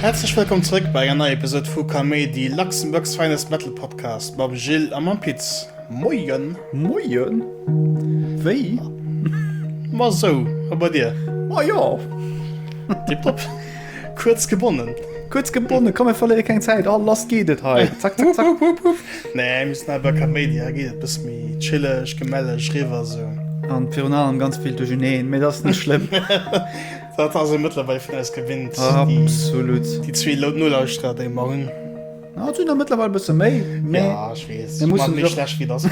Häerzlech wëllkomm zrëck bei enger neier Episode vu Kaméidi, Luxembourg's finest metal podcast mam Gilles a mam Pit. Moien! Moien! Wéi? Ma sou, a bei dir? Ma jo! Tiptop! Kuerz gebonnen. Kuerz gebonnen, komm mir verléiere keng Zäit. Oh lass geet et hei. Zack, zack, zack. Nee, müssen awer Kaméidi, geet et bis méi chilleg, gemelleg, riwwer sou. An virun allem ganz vill duercherneen, mee dat ass net schlëmm. Dat ass ee mëttlerweil vun eis gewinnt. Absolut. Déi zwee Lou Nolauschterer, déi mer hunn. Ah, sinn der mëttlerweil e bësse méi, mee. Ja, ech weess. Mir mussen méi schlecht wéi dass.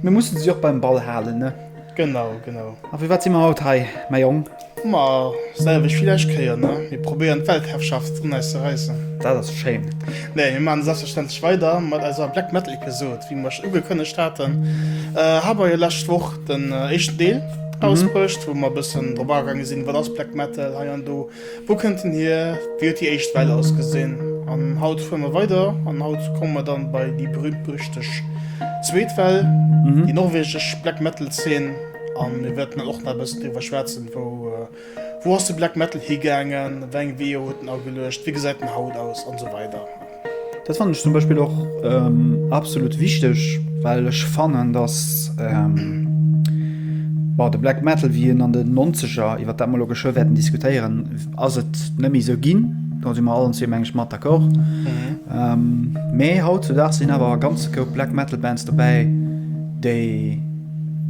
Mir mussen si och beim Ball halen, ne? Genau, genau. A fir wat si mer haut hei, mäi Jong? Ma selwecht wéi lescht Kéier, ne? Mir probéieren d'Weltherrschaft un eis ze räissen. Dat ass schéin. Nee, mir maachen selbstverständlech weider mat eiser Black Metal Episode, wéi mir iech ugekënnegt haten. Hei mer jo lescht Woch den éischten Deel rausbruecht, wou mer e bëssen drop agaange sinn, wat ass Black Metal hei an do, wou kënnt en hier, wéi huet déi éischt Well ausgesinn. An haut fuere mer weider an haut komme mer dann bei déi berühmt-berüchteg zweet Well, déi norwegesch Black Metal Zeen. An mir wäerten dann och nach e bëssen driwwer schwätzen, wou ass de Black Metal higaangen, wéi eng Weeër huet en ageluecht, wéi gesäit en haut aus an esou weider. Dat fannen ech zum Beispill och absolut wichteg, well ech fannen, datt de Black Metal, wéi en an den Nonzeger, iwwert dat mer elo geschwë wäerten diskutéieren, ass et net méi esou ginn, do si mer allen zwee meng ech mat d'accord, mä hautzudags sinn awer e ganze Koup Black Metal Bands dobäi, déi.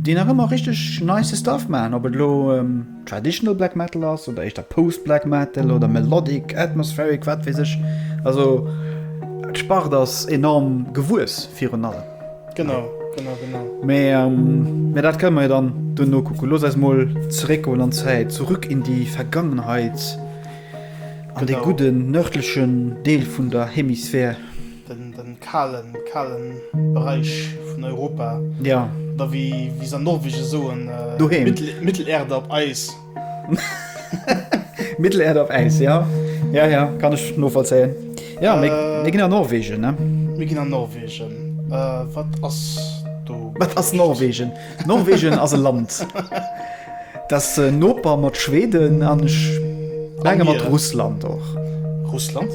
déi nach ëmmer richteg nice Stuff maachen, ob et elo traditional Black Metal ass oder éischter Post-Black Metal oder Melodic, Atmospheric, wat weess ech. Also d'Spart ass enorm gewuess virun allem. Genau, genau, genau. Mee dat kënne mer jo dann dunn nokucken. Looss eis mol zeréckgoen an d'Zäit, zurück in die Vergangenheit, an de gudden nördlechen Deel vun der Hemisphär. den kalen kalen Bereich vun Europa jo da wie wie se an Norwegen soen doheem Mittel Mittelerde op Äis Mittelerde op Äis jo jo jo kann ech novollzéien jo mee mir ginn an Norwegen ne mir ginn an Norwegen wat ass do wat ass Norwegen. Norwegen ass e Land, dat Noper mat Schweden an ech menge mat Russland och. Russland?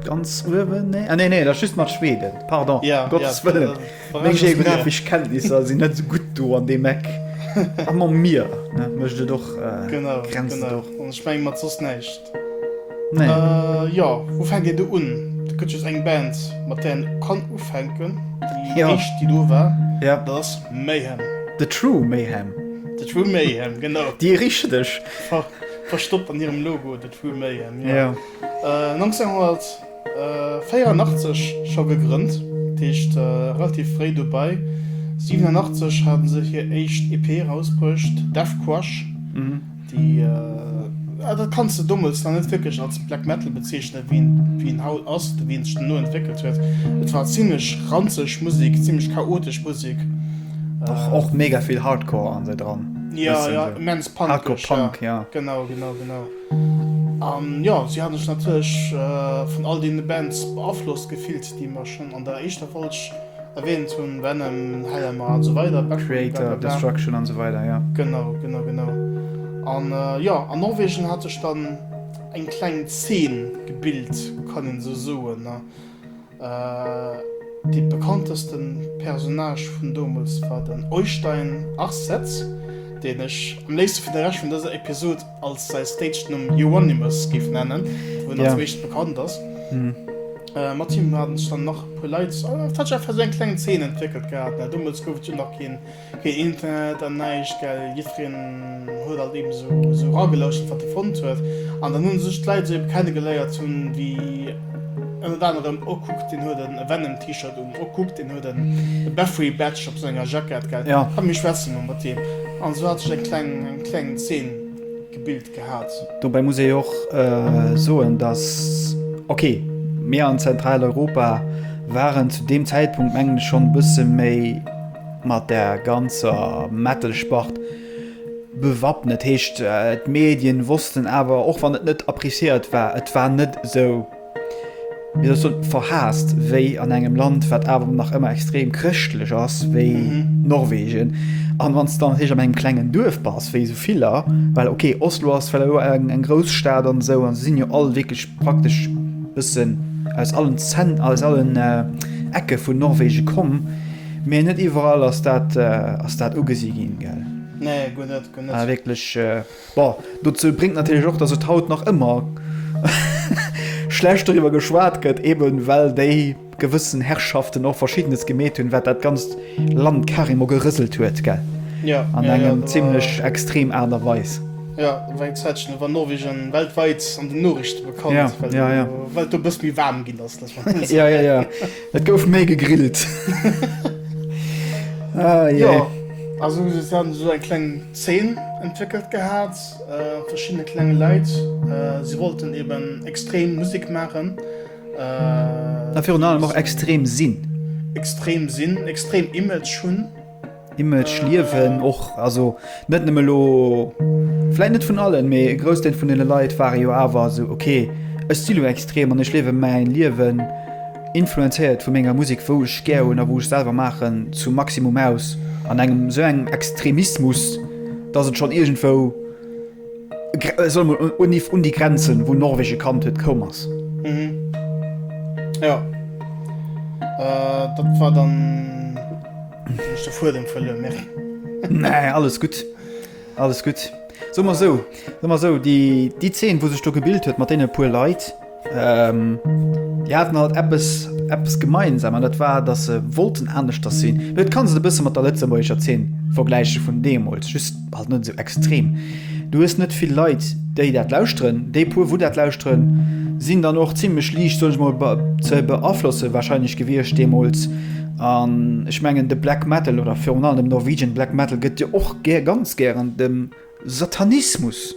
Ganz uewen? Nee, nee, nee, dat ass just mat Schweden. Pardon, um Gottes Wëllen, meng geographesch Kenntnisser sinn net esou gutt do an deem Eck. A mam Mier mécht et och Grenzen. Ech menge mat soss näischt. Nee. Äh, jo, wou fänkt een do un? Do gëtt just eng Band, mat där een kann ufänken. Déi jo. éischt, déi do war, ja. dat ass Mayhem. The True Mayhem. The True Mayhem, genau. Déi richteg. Ver verstoppt an hirem Logo, The True Mayhem, jo. Jo. Äh, 1900. 84 scho gegrënnt, dat heescht relativ fréi dobei. 87 hate se hir éischt EP erausbruecht, Death Crush. Déi, jo, dat kanns de dommels nach net wierklech als Black Metal bezeechnen, wéi en haut ass oder wéi en sech duerno entwéckelt huet. Et war zimmlech ranzeg Musek, zimmlech chaotesch Musek. Och mega vill Hardcore an se dran. Jo, jo, immens punkig. Hardcore Punk, jo. Genau, genau, genau. An jo, si haten sech natierlech vun all deene Bands beaflosst gefillt, déi mer schonn an der éischter Folg erwähnt hunn, Venom, Hellhammer an esou weider, Backbone, blablabla. Kreator, Destruction an esou weider, jo. Genau, genau, genau. An jo, an Norwegen hat sech dann eng kleng Zeen gebilt, kann een esou soen. Dee bekannteste Personnage vun domols war den Oystein Arseth, deen ech am léifste fir de Rescht vun dëser Episod als säi Stagenumm Euronymous géif nennen, wou en als meescht bekannt ass. Mat him haten sech dann nach e puer Leit, et hätt sech einfach esou eng kleng Zeen entwéckelt gehat. Domols gouf et jo nach keen. Keen Internet an näischt, gell? Jiddfereen huet alt eben esou eragelouschert, wat e fonnt huet. An dann hu sech d'Leit esou eben kennegeléiert, hunn déi ënnert anerem, oh kuck, deen huet en Venom T-Shirt un, oh kuck, deen huet en Bathory Badge op senger Jackett, gell? Komm, mir schwätze mol mat deem. An esou hat sech eng kleng Zeen gebilt gehat. Dobäi muss ee jo och soen, dass, ok, mir an Zentraleuropa waren zu deem Zäitpunkt, mengen ech, schonn e bësse méi, mat der ganzer Metal-Spart bewappnet. Heescht, d'Medien wossten awer, och wann et net appreciéiert war, et war net esou, wéi soll ech soen, verhaast wéi an engem Land, wat awer nach ëmmer extrem chrëschtlech ass, wéi Norwegen. An wann s de dann natierlech an engem klengen Duerf bass, wéi esou viller, well ok, Oslo ass well elo eng, eng grouss Stad an esou, an se sinn jo all wierklech praktesch bëssen aus allen Zent, aus allen Ecke vun Norwegen komm, Mee net iwwerall ass dat ass dat ugesi ginn, gell? Nee, guer net, guer net. Ah, wierklech. Bon, dozou bréngt natierlech och, datt et haut nach ëmmer schlecht doriwwer geschwat gëtt, eben well déi gewëssen Herrschaften och Verschiddenes gemeet hunn, wat dat ganzt Land carrément gerëselt huet, gell? Jo, jo, jo. An engem zimlech extrem Aart a Weis. Jo, et war eng Zäit schen, do war Norwegen weltwäit an den Noriichten bekannt, well et do e bëssi méi waarm ginn ass. Jo, jo, jo. Et gouf méi gegrillt. Jo, also se hat esou eng kleng Zeen entwéckelt gehat, verschiddene klenge Leit, si wollten eben extrem Musek maachen. A virun allem och extrem sinn. Extrem sinn, extrem Image hunn. Image liewen och also net nëmme lo vläit net vun allen, mee e Groussdeel vun deene Leit ware jo awer esou, okay, ech si lo extrem an ech liewe mäin Liewen, influenzéiert vu menger Musek, wou ech gär hunn a wou ech selwer maachen, zum Maximum aus. An engem esou engem Extremismus, datt et schonn iergendwou. Solle mer un iww un déi Grenzen, wou Norwegen kannt huet, koum ass. Mhm. Jo. Äh, dat war dann. Hun ech de Fuedem verluer, Mary. Nee, alles gutt. Alles gutt. Soe mer esou, soe mer esou, déi, déi Zeen, wou sech do gebilt huet mat deene puer Leit, Déi haten alt eppes eppes gemeinsam an dat war, datt se wollten aneschters sinn. Mee et kann se e bësse mat der lëtzebuergescher Zeen vergläiche vun deemools, just halt net esou extrem. Du hues net vill Leit, déi dat lauschteren. Déi puer, wou dat lauschteren, sinn dann och zimmlech liicht, soen ech mol, be ze beaflosse warscheinlech gewiescht deemools. An ech mengen de Black Metal oder virun allem dem Norwegian Black Metal gëtt jo och gär, ganz gären dem. Satanismus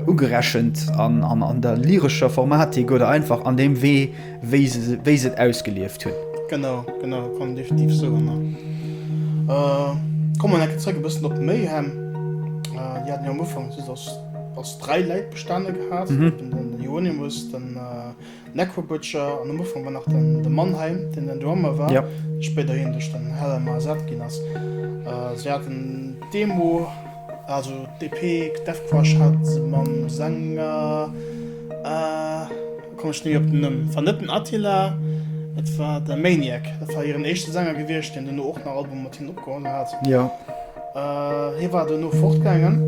ugerechent, an der lyrescher Formatik oder einfach an deem Wee, wéi se et ausgelieft hunn. Genau, genau, kann een definitiv soen. Komme mer eng Kéier zréck e bëssen op Mayhem. Déi haten jo am Ufank just aus dräi Läit bestanen gehat, eben den Euonymus, den. Necro Butcher an am Ufank war nach de Mannheim, deen den Drummer war, spéider hien duerch den Hellhammer ersat ginn ass. Si haten d'Demo, also d'EP Deathcrush hat se mam Sänger, elo komme ech net méi op den Numm, war net den Attila, et war de Maniac, dat war hiren éischte Sänger gewiescht, deen duerno och nach Albume mat hinnen opgeholl hat. Hie war duerno fortgaangen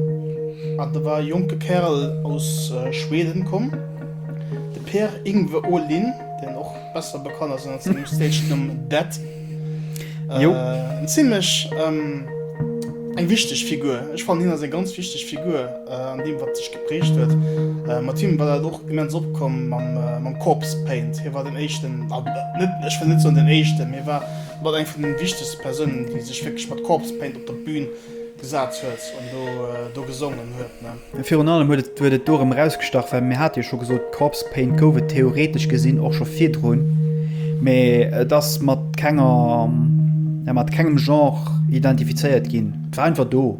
an da war e jonke Kärel aus Schweden komm, de Per-Yngve Åhlin, deen och besser bekannt ass ënner sengem Stage-Numm Dead. Eng zimlech eng wichteg Figur. Ech fannen, hien ass eng ganz wichteg Figur an deem, wat sech geprägt huet. Mat him war dat och immens opkomm mam Corpse Paint. Hie war den éischten, net, ech wëll net soen den éischten, mee hie war Mat eng vun den wichtegsten Persounen déi sech wierklech mat Corpse Paint op der Bühn gesaat huet an do gesongen huet. Virun allem huet et do erem erausgestach well mir hate jo scho gesot Corpse Paint gouf et theoretesch gesinn och scho virdrun mee et ass mat kenger mat kengem Genre identifizéiert ginn. Et war einfach do.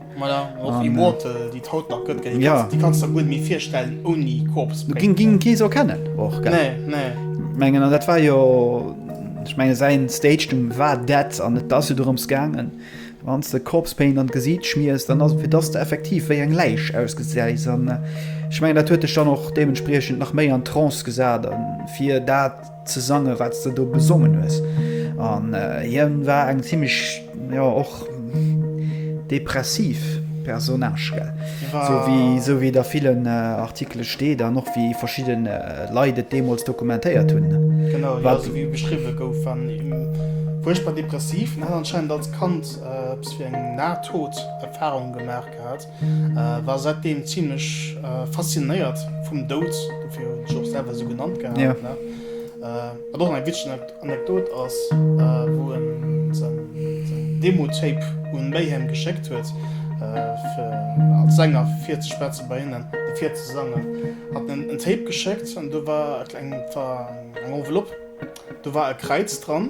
Voilà, och Immortal, déi et haut nach gëtt, gell? Ja. Déi kanns der guer net méi virstellen ouni Corpse Paint. Ging, ging kee sou kennen och, gell? Nee, nee. Ech mengen, an dat war jo, ech mengen säin Stage-Numm war dat, an et ass jo dorëms gaangen, wanns de Corpse Paint an d'Gesiit schmiers, dann ass et fir dass de effektiv wéi eng Läich ausgesäis, an ech mengen dat huet dech dann och deementspriechend nach méi an Trance gesat, an fir dat, ze sange wat de do gesongen hues an hien war eng ziemlich ja och depressiv Personage so wie so wie der vielen Artikele steet an och wie verschieden Leit et deemols dokumentéiert hunn wat so wie beschriwwe gouf war furchtbar depressiv an hat anscheinend als Kand eppes wéi eng Nahtoderfahrung gemaach gehat. War säitdeem zimmlech faszinéiert vum Doud, dofir hunn ech och selwer esou genannt gehat. Wat och eng witzeg Anekdot ass, wou e seng Demo-Tape un Mayhem geschéckt huet, fir als Sänger virzespetze bei hinnen, fir virzesangen, hat en en Tape geschéckt an do war eng Enveloppe. Do war e Kräiz dran,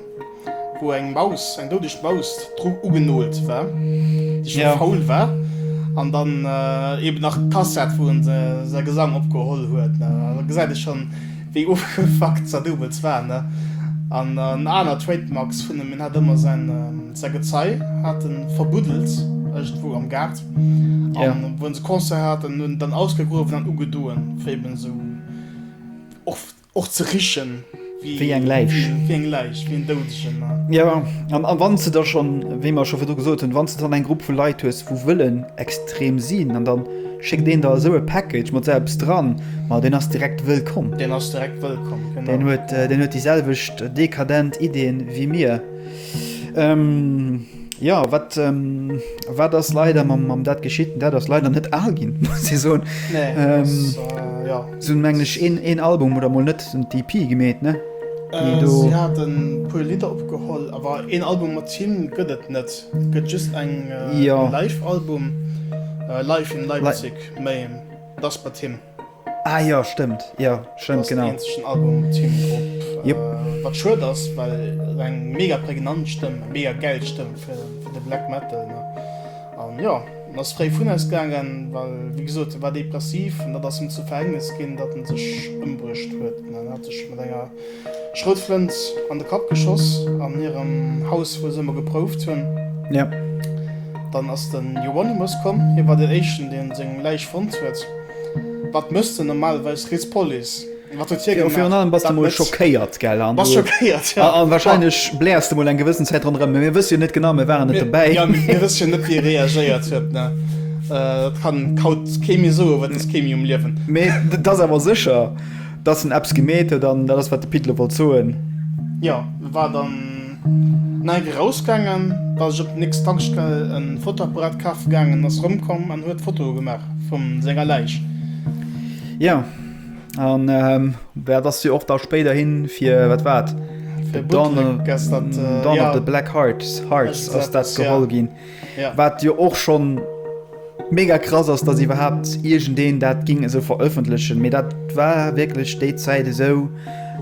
wou eng Maus, eng doudeg Maus dru ugenolt war, déi scho faul war. An dann eeben nach d'Kassett, wou en säi Gesang opgeholl huet. Da gesäit ee schonn, wéi ofgefuckt Zadoubels war, ne? An en aner Trademarks vun em, en hat ëmmer säin Gezei hat e verbuddelt iergendwou am Gaart. A wou se Concert haten, hunn en dann ausgegruewen an ugedoen, fir eeben esou och. Och ze richen wéi eng Läich. Wéi eng Läich, wéi en Doudegen, ne? Jo, an wann s de da schonn, wéi mer scho virdu gesot hunn, wann s de dann eng Grupp vu Leit hues, wou wëllen extrem sinn an dann schéckt een der esou e Package mat esou eppes dran, ma deen ass direkt wëllkomm. Deen ass direkt wëllkomm, genau. Deen huet, deen huet déi selwecht dekadent Ideeën wéi mir. Ja wat wat ass leider mam mam dat geschitt dat ass leider net al ginn si so sinn mengglech een een Album oder mol net un d'EP gemeet ne puer Lidder opgeholl awer een Album mat Team gëtt et net gëtt just eng jo live Album live in Leipzig méi dat ass bei Team. Ah jo, stëmmt, jo, stëmmt, genau. Ass den eenzegen Album mat him drop. Jep. Wat schued ass, well et eng mega prägnant Stëmm, eng mega gäil Stëmm fir de Black Metal, ne? An jo, en ass fréi vun eis gaangen, well wéi gesot, e war depressiv an dat ass him zur Verhängnis ginn, datt en sech ëmbruecht huet, ne? En hat sech mat enger Schroutflënt an de Kapp geschoss an hirem Haus wou se ëmmer geprouft hunn. Yep. Dann ass den Euronymous komm, hie war den éischten deen seng Läich fonnt huet. Wat mësst den normalerweis rids Police? Wat huet hie gemaach? Virun allem bass de mol schockéiert, gell? Bass schockéiert, jo. A wahrscheinlech bläers de mol eng gewëssen Zäit ronderëm, mä mir wësse jo net genau, mir waren net dobäi. Jo, mir wësse jo net wéi e reagéiert huet, ne? Dat kann haut kee méi soen, well et ass kee méi um Liewen. Mä dat ass awer sécher. Dass en eppes gemeet huet an dat ass wat de Pit elo wollt soen. Jo, e war dann neit erausgaangen, war sech op der nächster Tankstell e Fotoapparat kafe gaangen, ass erëmkomm an huet Fotoe gemaach vu senger Läich. Jo, an dat ass jo och da spéiderhi fir, wat war et? Fir Bootleg ass dat, jo. Dawn of the Black Hearts ass dat geholl ginn. Wat jo och schon mega krass ass, dass iwwerhaapt iergendeen dat ging esou veröffentlechen, mee dat war wierklech déi Zäit esou.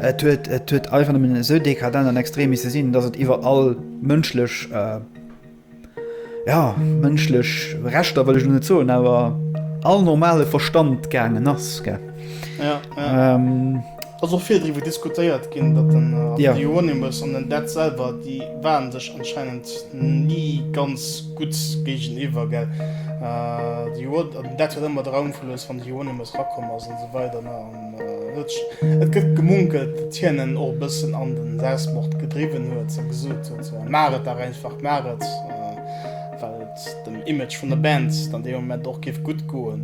Et huet et huet einfach nëmmen esou dekadent an extrem misse sinn, dass et iwwer all mënschlech, ja mënschlech Rechter wëll ech elo net soen, awer all normale Verstand gaangen ass, gell. Ass och vill driwwer diskutéiert ginn, datt den Andy Hieronymus an den Dead selwer, déi waren sech anscheinend ni ganz gutt géigeniwwer, gell? Den Dead huet ëmmer Draum verlues, wann de Hieronymus rakomm ass an esou weider, ne? An et gëtt gemunkelt, datt hien en och e bëssen an den Selbstmord gedriwwen huet a gesot huet, Maach et dach einfach, maach et, well. dem Image vun der Band dann dee Moment och géif gutt goen.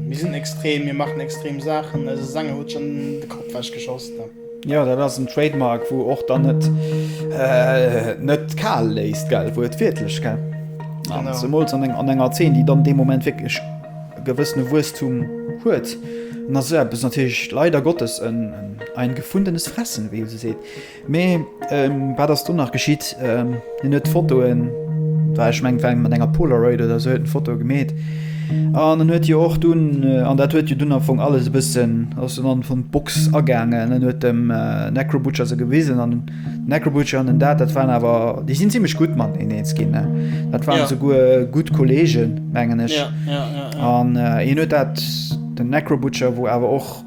Mir sinn extrem, mir maachen extrem Saachen, eise Sänger huet schonn de Kapp ewech geschoss. Jo, dat ass en Trademark, wou och dann et net kal léisst, gell, wou et wiertlech, gell, zemools an enger Zeen, déi dann dee Moment wierklech e gewëssene Wuesstum huet, dann ass esou eppes natierlech leider Gottes ein gefundenes Fressen, wéi ee sou seet. Mee wat ass do nach geschitt? Hien huet d'Fotoen, war ech meng mat enger Polaroid oder se huet en Foto gemeet. An en huet jo och dunn an dat huet jo dunn am vung alles e bëssen ass en an vun d'Box agaangen. En huet dem äh, Necrobutcher se gewisen an Necrobutcher an den Dat, dat waren awer déi sinn ziemlichch gut mat en eens ginn. Dat waren ja. se guer gut Kolleege mengen ech. An ja, ja, ja, ja. äh, en huet dat den Necrobutcher, wou awer och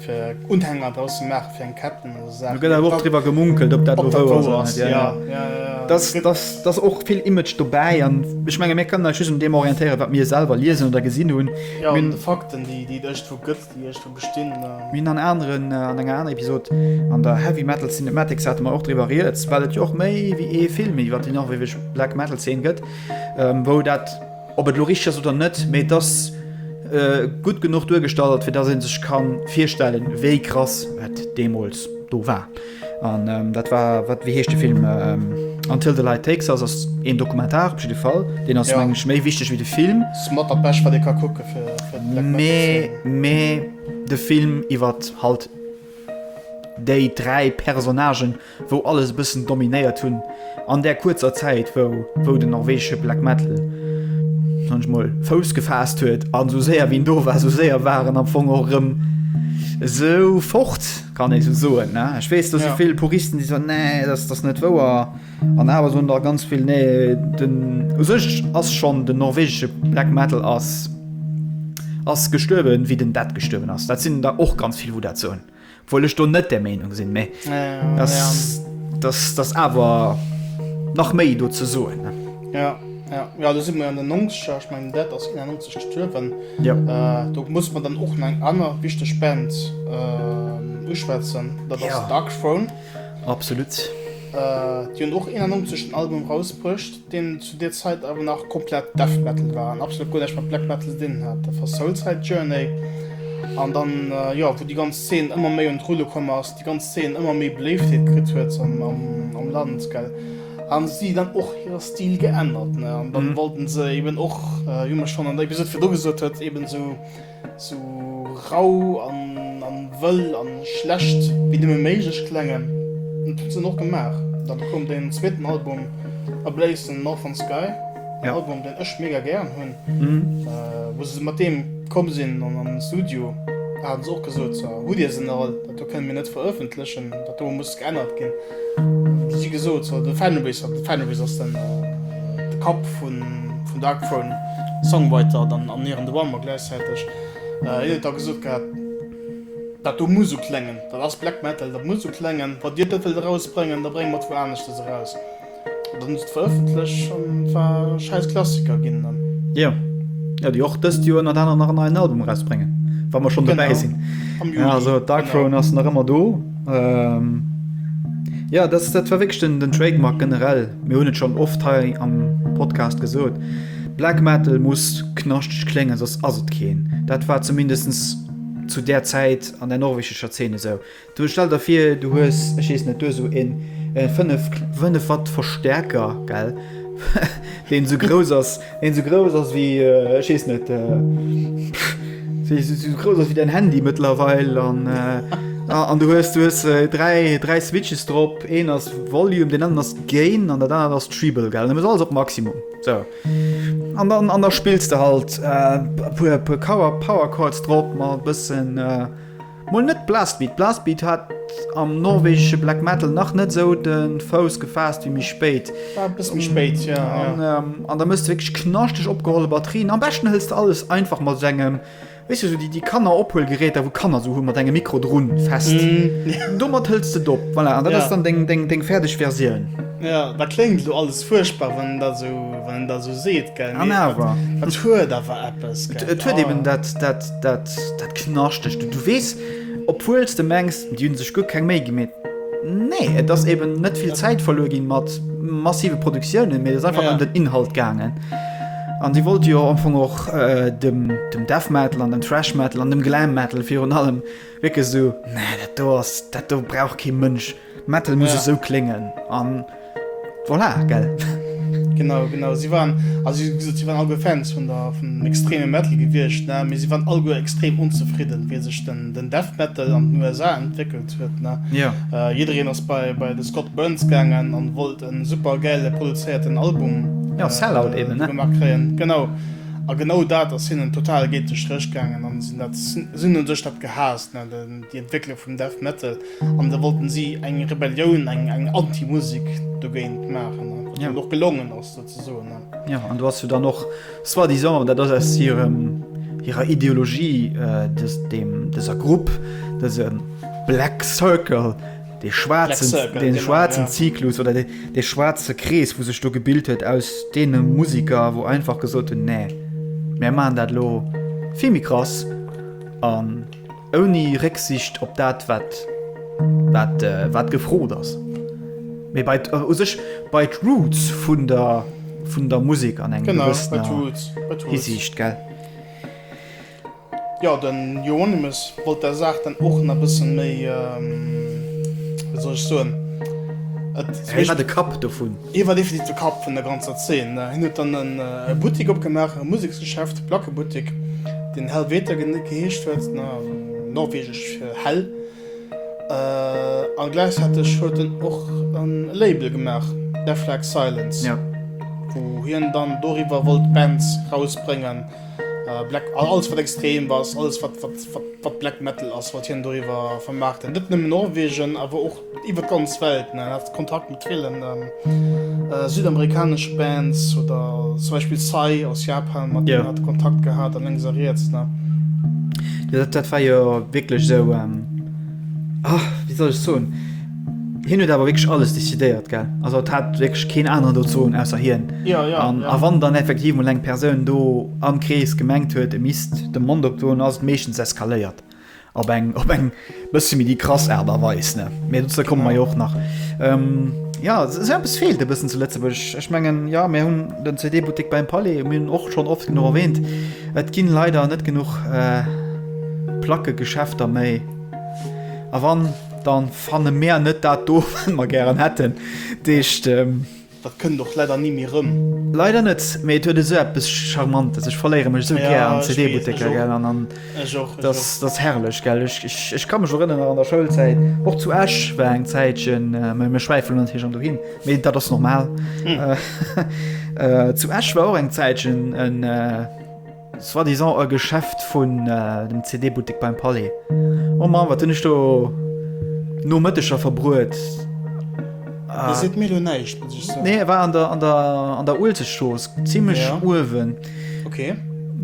fir Unhänger draus ze maachen, fir eng Ketten oder esou Saachen. Et gëtt awer och driwwer gemunkelt, ob dat elo wouer ass oder net. Ja, ja, ja. Da ass och vill Image dobäi an ech menge mir kënnen eis just un deem orientéieren, wat mir selwer liesen oder gesinn hunn. Jo, un de Fakten, déi et iergendwou gëtt, déi iergendwou bestinn. Mir hunn an aneren, an enger anerer Episod, an der Heavy Metal Cinematics, hate mer och driwwer rieds, well et jo och méi wéi ee Film iwwer déi norwegeg Black Metal Zeen gëtt, wou dat. Ob et elo richteg ass oder net, mee et ass gutt genuch duergestallt, fir datt ee sech ka virstellen, wéi krass et deemools do war. An dat war, wat, wéi heescht de Film? Until the Light Takes Us ass een Dokumentar op jidde Fall. Deen ass, mengen ech, méi wichteg wéi de Film. Ass mat dat Bescht, wat ee ka kucke fir de Black Metal Fan. Mee de Film iwwert halt déi dräi Personnagen, wou alles e bëssen dominéiert hunn an där kuerzer Zäit wou wou den norwegesche Black Metal sage ech mol Fouss gefaasst huet an esou séier wéi en do war esou séier war en am Fong och erëm esou fort, kann ee esou soen, ne? Ech weess do si vill Puristen déi soen, nee dat ass net wouer an awer soen der ganz vill, nee den u sech ass schonn den norwegesche Black Metal ass ass gestuerwen wéi den Death gestuerwen ass. Dat sinn der och ganz vill wou dat soen. Obwuel ech do net där Meinung sinn, mä dass awer nach méi do ze soen. Jo, jo, do si mer an den Nongzeger, ech mengen dat ass 91 gestuerwen. Do muss mer dann och nach eng aner wichteg Band uschwätzen, dat ass Darkthrone. Absolut. Déi hunn och 91 en Album erausbruecht. deen zu deer Zäit awer nach komplett Death Metal war an absolut guer näischt mat Black Metal ze dinn hat. Dat war Soulside Journey an dann, jo, wou déi ganz Zeen ëmmer méi un d'Rulle komm ass, déi ganz Zeen ëmmer méi Beléiftheet kritt huet am Land, gell, hu si dann och hire Stil geännert, ne, an dann wollten se eeben och, wéi mer schonn an der Episode virdu gesot huet, eeben esou. Sou rau an wëll an schlecht wéi nëmmen méiglech klengen. Dat huet se och gemaach. Dann koum den zweeten Album A Blaze in Northern Sky, en Album deen ech mega gären hunn. Wou se mat deem komm sinn an den Studio haten se och gesot, hutt dir se nach all? Do kënnen mir net verëffentlechen, dat do muss geännert ginn. Wéi si gesot, sou de Fenris, de Fenris ass den de Kapp vun vun Darkthrone, Songwriter dann an Nier in the Womb a gläichzäiteg, hien huet da gesot gehat, dat do muss sou kléngen, dat ass Black Metal, dat muss sou kléngen, wann dir dat net wëllt erausbréngen, da brénge mer et wou aneschters eraus. Dann hues de veröffentlech an et war e schäiss Klassiker ginn dann. Jo, jo, déi och dëst Joer ënnert anerem nach en neien Album erausbréngen, wa mer schonn dobäi sinn. Am Juli. Also Dark Throne ass nach ëmmer do. Jo, dat war wierklech den Trademark generell. Mir hunn et schonn oft hei am Podcast gesot, Black Metal muss knaschteg kléngen, soss ass et keen. Dat war zumindest zu där Zäit an der norwegescher Zeen esou. Du stell der vir du hues, ech wees net, du hues sou een 5 5 Watt Verstärker gell deen sou grouss ass, deen sou grouss ass wéi ech wees net sou grouss ass wéi däin Handy mëttlerweil an an du hues du hues 3 3 Switches drop, een ass Volume, deen aner ass Gain an dat anert ass Treble gell, dat muss alles op Maximum sou an dann an der spills de halt e puer e puer Cower Power Chords drop mat e bëssen. Mol net Blastbeat, Blastbeat hat am norwegesche Black Metal nach net esou de Fouss gefaasst wéi méi spéit. War e bësse méi spéit, jo. An, ähm, an da muss de wierklech knaschteg opgeholle Batterien. Am beschten hëls de alles einfach mat esou engem, weess du, esou déi, déi Kannerophuelgeräter, wou d'Kanner esou hunn, mat engem Mikro drun fest. Domat hëls de et op, voilà, an dat ass dann deng, deng, deng fäerdeg Versioun. Jo, dat kléngt elo alles fuerchtbar, wann en dat esou, wann en dat esou seet, gell, An mee awer. et huet awer eppes, gell. Et huet eben dat, dat. Dat, dat Knaschtegt, du weess, obwuel s de mengs, déi hunn sech guer keng Méi gi, mee nee, et ass eeben net vill Zäit verluer ginn mat massive Produktiounen, mee et ass einfach ëm den Inhalt gaangen. An si wollte jo am Fong och dem Death Metal an dem Thrash Metal an dem Glam Metal virun allem wierklech esou, nee, dat do ass, dat do brauch kee Mënsch. Metal muss esou kléngen an voilà, gell? Genau, genau. Si waren, also wéi gesot, si waren alleguer Fans vun der, vun extreme Metal gewiescht, ne? Mee si waren alleguer extrem onzefridden, wéi sech den, den Death Metal an den USA entwéckelt huet, ne? Ja. Jiddereen ass bei, bei de Scott Burns gaangen an wollt en super gäile produzéierten Album, Ja, Sellout eben, ne? Gemaach kréien. Genau. A genau dat ass hinnen total géint de Stréch gaangen an si hunn dat, si hunn u sech dat gehaasst, ne? Den, déi Entwécklung vum Death Metal. an da wollten si eng Rebellioun eng eng Antimusik dogéint maachen ja. och gelongen ass dat ze soen. Ja an du hast du dann noch war die Song dat ass aus hirem hirer Ideologie äh, des, dem deser Grupp des ähm, Black Circle de schwarzen Circle, den genau, schwarzen ja. Zyklus oder de, de schwarze Krees wo sech du gebild huet aus dee Musiker wo einfach gesot hun nee. Mä man dat lo Vimi krass an. Um, Ouni Récksicht op dat, wat gefrot ass. Mee bei u sech bei d'Roots vun der Musek an enger gewëssener Hisiicht, gell? Jo, de Euronymous wollt der Saach dann och nach e bësse méi, wéi soll ech soen? Hie war de Kapp dovun. Hie war definitiv de Kapp vun der ganzer Zeen. Hien huet dann e Buttik opgemaach, e Museks. Geschäft, Plackebuttek, deen Helvete geheescht huet, norwegesch fir hell, a gläichzäiteg huet en och e Label gemaach, Deaflak Silence, wou hien dann doriwwer wollt Bands rausbréngen, alles wat extrem ass, alles wat Black Metal ass, wollt hien doriwwer vermaarten, net nëmmen Norwegen awer och. Iwwer d'ganz Welt, mir haten oft Kontakt mat villen südamerikaneschen Bands oder zum Beispiel Psy aus Japan, mat deenen haten Kontakt gehat a lénks a riets ne. Dat war jo wierklech esou, wéi soll ech soen, hien huet awer wierklech alles decidéiert, gell, also et hat wierklech keen aneren do ze soen ausser hien. Jo, jo. A wann dann effektiv mol eng Persoun do am Krees gemengt huet, e misst de Mond opdoen, ass et meeschtens eskaléiert. Op eng, op eng bësse méi déi krass Aart a Weis, ne? Mee dozou komme mer jo och nach. Jo, esou eppes feelt e bëssen zu Lëtzebuerg. Ech mengen, jo, mir hunn den CD-Buttek beim Palais, mir hunn och schonn oft genuch erwähnt, et ginn leider net genuch Plackegeschäfter méi. A wann, dann fanne mär net dat do, wat mer gären hätten. Dat heescht, Dat kënnt och leider ni méi rëm. Leider net, mee et huet esou eppes charmantes. Ech verléiere mech esou gär an CD-Butteker, gell, an an datt datt herrlech, gell. Ech ech ech ka mech erënneren an der Schoulzäit, och zu Esch war eng Zäitchen, mä mir schwäifen natierlech an dohin, mee dat ass normal, zu Esch war och eng Zäitchen en, Soit disant e Geschäft vun dem CD-Buttek beim Palais. Oh Mann, wat hunn ech do Nomëtteger verbruet! Dir seet mir elo näischt, muss ech soen. Nee, e war an der, an der, an der Uelzechtstrooss, zimmlech uewen. Okay.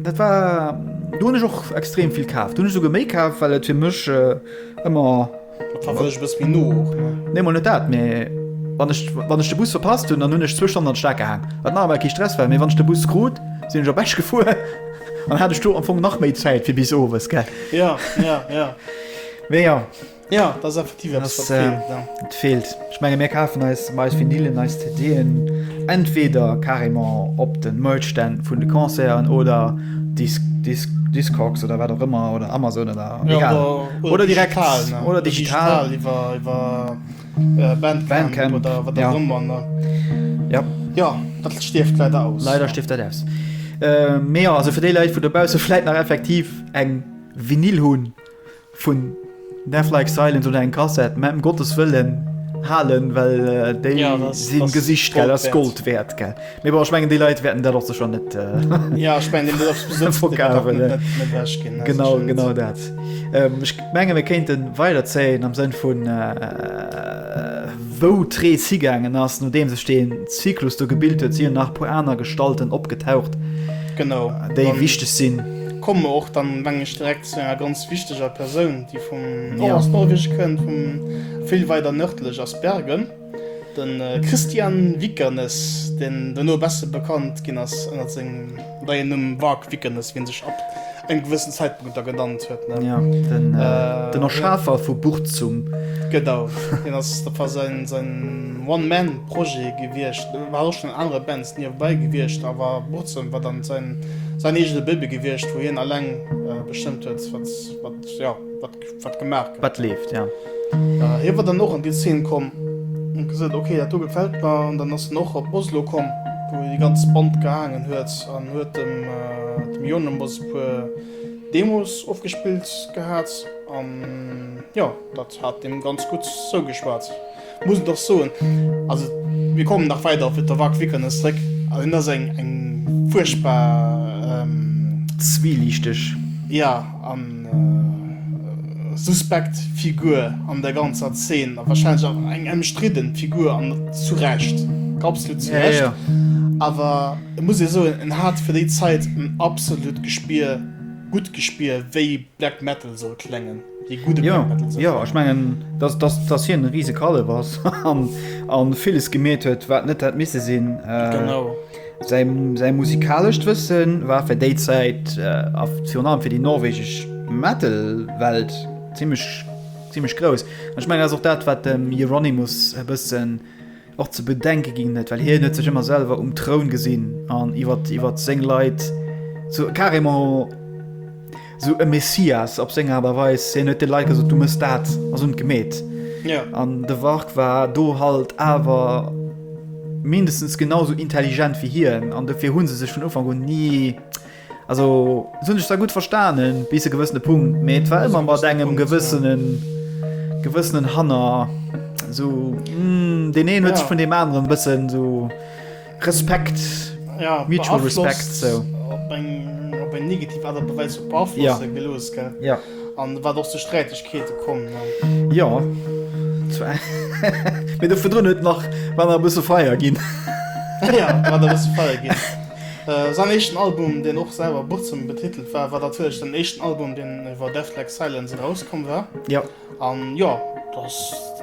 Dat war, do hunn ech och extrem vill kaf. Do hunn ech souguer méi kaf, well et fir mech ëmmer. Nee mol net dat, mee wann ech wann ech de Bus verpasst hunn, dann hunn ech zwou Stonnen an d'Stad gehaang, wat nach emol kee Stress war, mee wann ech de Bus krut, sinn ech op Esch gefuer an hat ech do am Fong nach méi Zäit fir bis owes, gell? Mee jo. Jo, dat ass effektiv eppes wat feelt. Ech menge mir kafen eis eis Vinylen, eis CD'en entweder carrément op de Merch-Stänn vun de Concerten oder Disc, Disc, Discogs oder wat och ëmmer oder Amazon oder egal. Ja, oder, oder direkt digital, ne? Oder digital. Oder digital iwwer, iwwer Bandcamp, Bandcamp oder wat och ëmmer, ne? Ja. Ja, dat stierft leider aus. Leider stierft dat aus. Mee jo, also fir déi Leit, wou dobausse vläit nach effektiv eng Vinyl hunn, Vun Death Like Silence oder eng Kassett mä em Gottes Wëllen halen, well déi ja, sinn gesicht gell ass Gold wäert gell. Mee bon ech mengen déi Leit wäerten dat och sech net äh, ja, ich mein, Genau genau dat. Ähm, ech menge mir kéinten weiderzéien am Sënn vun. Äh, wou d'Ree zigängeen ass, no deem sech den Zyklus do gebilt huet, si nach puer aner Gestalten opgetaucht. Genau déi wichteg sinn. Komme och dann wann ech dreck Zu enger ganz wichteger Persoun, déi vum Nor aus Norweg kënnt, vum vill weider nërdlech ass Bergen. De Kristian Vikernes, deen dono besse bekannt ginn ass ënnert sengem neien Numm Varg Vikernes, wien sech ab engem gewëssen Zäitpunkt da genannt huet, ne? Ja, den Erschafer vu Burzum. Genau, deen ass, dat war säin One-Man-Projet gewiescht. War och schonn an anere Bands. Niewebäi gewiescht, awer Burzem war dann säin eegene Baby gewiescht, wou hien alleng bestëmmt huet, wat, jo, wat gemaach gëtt. Wat leeft, jo. Hie war dann och an déi Zeen komm an gesot, ok, dat do gefält mer. An dann ass en och op Oslo komm, wou hie déi ganz Band gehaangen huet an huet dem Jonemboss e puer Demos ofgespillt gehat. An jo, dat hat deem ganz gutt zougeschwat. Muss et och soen, also mir kommen nach weider op Viktor Vikernes zréck, an hien ass eng eng fuerchtbar. Zweeliichteg. Ja, a suspekt Figur an der ganzer Zeen, a wahrscheinlech och eng emstridden Figur, an zu Recht, absolut zu Recht. Ja, ja. Awer et muss ee soen, en hat fir déi Zait en absolut Gespier, gutt Gespier, wéi Black Metal soll kléngen. Ja, ja ech mengen, dass, dass, dass hien e riese Kallef ass an, an villes gemeet huet, wat net hätt misse sinn. Äh, genau. Säi, säi musikalescht Wëssen war fir déi Zäit äh, a virun allem fir déi norwegesch Metal-Welt ziemlech, ziemlech grouss. Ech mengen, ass och dat, wat dem Euronymous e bëssen Och ze bedenke ginn net, well hien huet sech ëmmer selwer um Troun gesinn an iwwert iwwert seng Leit sou carrément sou e Messias op seng Aart a Weis. Hien huet de Leit gesot, du mëss dat a sou gemeet. Ja. An de Warg war do halt awer mindestens genau sou intelligent wéi hien an dofir hu se sech vun Ufank un ni Also se hunn sech zwar gutt verstanen, bis e gewëssene Punkt, mee et war ëmmer mat engem gewëssenen, gewëssenen Hanner. So, mm, den een huet sech Ja. vun dem aneren bëssen so Respekt, ja, mutual beaflosst, respect, so. Op eng, op eng negativ Aart a Weis och beaflosse Ja. gelooss, gell? Ja. An wat och zu Sträitegkeete komm, ne? Ja. Zwar. Mee doverdrun huet nach, war nach e bësse Feier ginn. Ja, war nach e bësse Feier ginn. Säin éischten Album, deen och selwer Burzum betitelt war, war natierlech den éischten Album, deen iwwer Death Like Silence erauskomm war. Jo. An jo,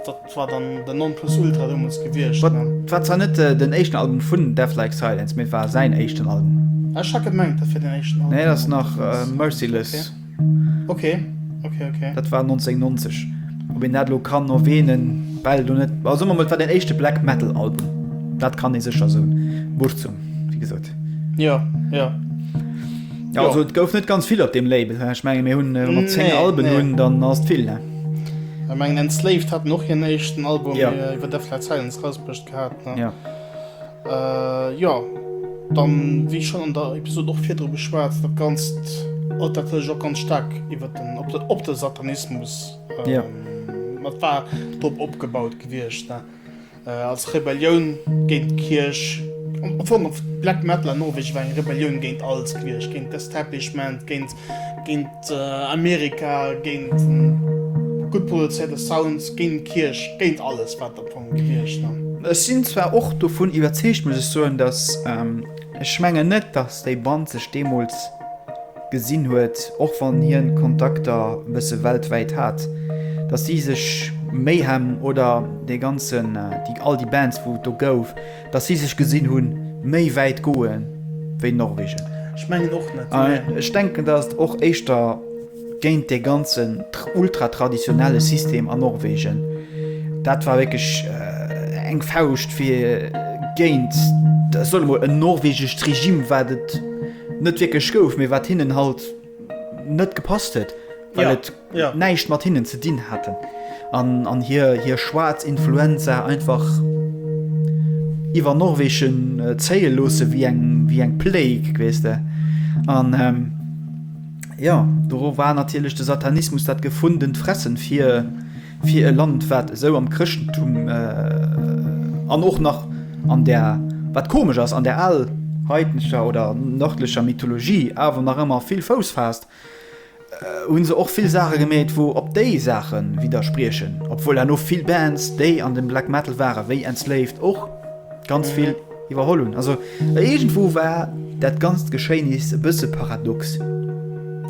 dat war dann den Non-Plus-Ultra deemools gewiescht. Wat war zwar net den éischten Album vun Death Like Silence, mee et war säin éischten Album. Ech hat gemengt, dat wier den éischten Album. Nee, dat ass nach Merciless. Okay, okay, okay. Dat war 1990. Ob een dat lo kann erwähnen, well du net. Also man war den echte Black Metal Album. Dat kann e secher so Buchzung wie gesot. Ja ja. Ja, also, et gouf net ganz vill op dem Label ich mein, mir hunn äh, 10 nee, Alben nee. hunn dann ass vill ne. Ich mein, Enslaved hat noch hir nechten Album ja. iwwer äh, der Flat Silence rausbrucht gehabt. Ne? Ja. Äh, jo. Dann, wéi schonn an der Episod och virdru geschwat, dat Ganzt erëlt natierlech och ganz staark iwwer den, op de, op de Satanismus. Ähm, ja. Dat war drop opgebaut gewiescht, ne? Äh, als Rebellioun géint d'Kierch. Am Fong, Black Metal an Norwegen war eng Rebellioun géint alles gewiescht, géint d'Establishment, géint, géint. Amerika, géint gutt produzéierte Sounds, géint d'Kierch, géint alles wat der Punk heescht an. Ech sinn zwar och dovun iwwerzeegt, muss ech soen, datt, ech mengen net, datt déi Band sech deemools gesinn huet, och wann hien Kontakter e bësse weltwäit hat, datt si sech Mayhem oder dee ganzen, all déi Bands wou et do gouf, Dass si sech gesinn hunn, méi wäit goe wéi Norwegen. Ech mengen och net. Ech denken, dass et och éischter géint dee ganzen ultratraditionelle System an Norwegen, dat war wierklech eng Fauscht fir géint, ech soen emol, en norwegescht Regime, wat et net wierklech gouf, mee wat hinnen halt. net gepasst huet, well et näischt mat hinnen ze dinn hat an hir schwaarz Influenza einfach iwwer Norwegen zéie loosse wéi eng Plague, weess de. An jo, doru war natierlech de Satanismus dat gefundent Fressen fir. Fir e Land wat esou am Chrëschtentum an och nach an der, wat komesch ass, an der alheidnescher oder nërdlecher Mythologie awer nach ëmmer vill Fouss faasst, hu se och vill Saache gemeet wou op déi Saache widderspriechen, obwuel herno vill Bands déi an dem Black Metal ware wéi Enslaved och ganz vill. Iwwerholl hunn. Also iergendwou war dat ganzt Geschéinis e bësse paradox.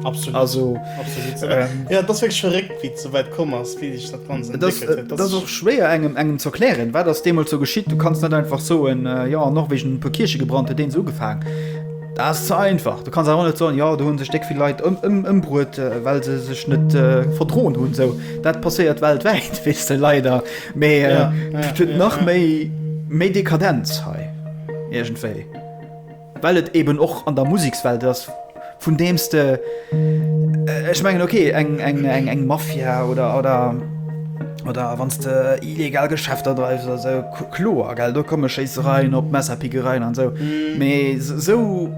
Absolut. Also, Absolut. Ähm, ja, dat ass wierklech verréckt, wéi et esou wäit komm ass, wéi sech dat Ganzt entwéckelt huet. Dat ass och schwéier engem, engem ze erklären, wat ass deemools esou geschitt. Du kanns net einfach soen, äh, jo, an Norwegen hunn e puer Kierche gebrannt, huet deen esou ugefaang. Dat ass ze einfach. Du kanns awer och net soen, jo, do hunn sech déck vill Leit ëm, ëm, ëmbruet, äh, well se sech net äh, verdroen hunn. Esou, dat passéiert weltwäit, weess de, leider. Mee et huet nach méi méi Dekadenz hei iergendwéi, well et eben och an der Musekswelt ass, vun deems de ech mengen ok eng eng eng eng Mafia oder oder oder wann s de illegal Geschäfter dreifs oder sou kloer gell, do komme Schéissereien op, Messerpickereien an sou. Mee sou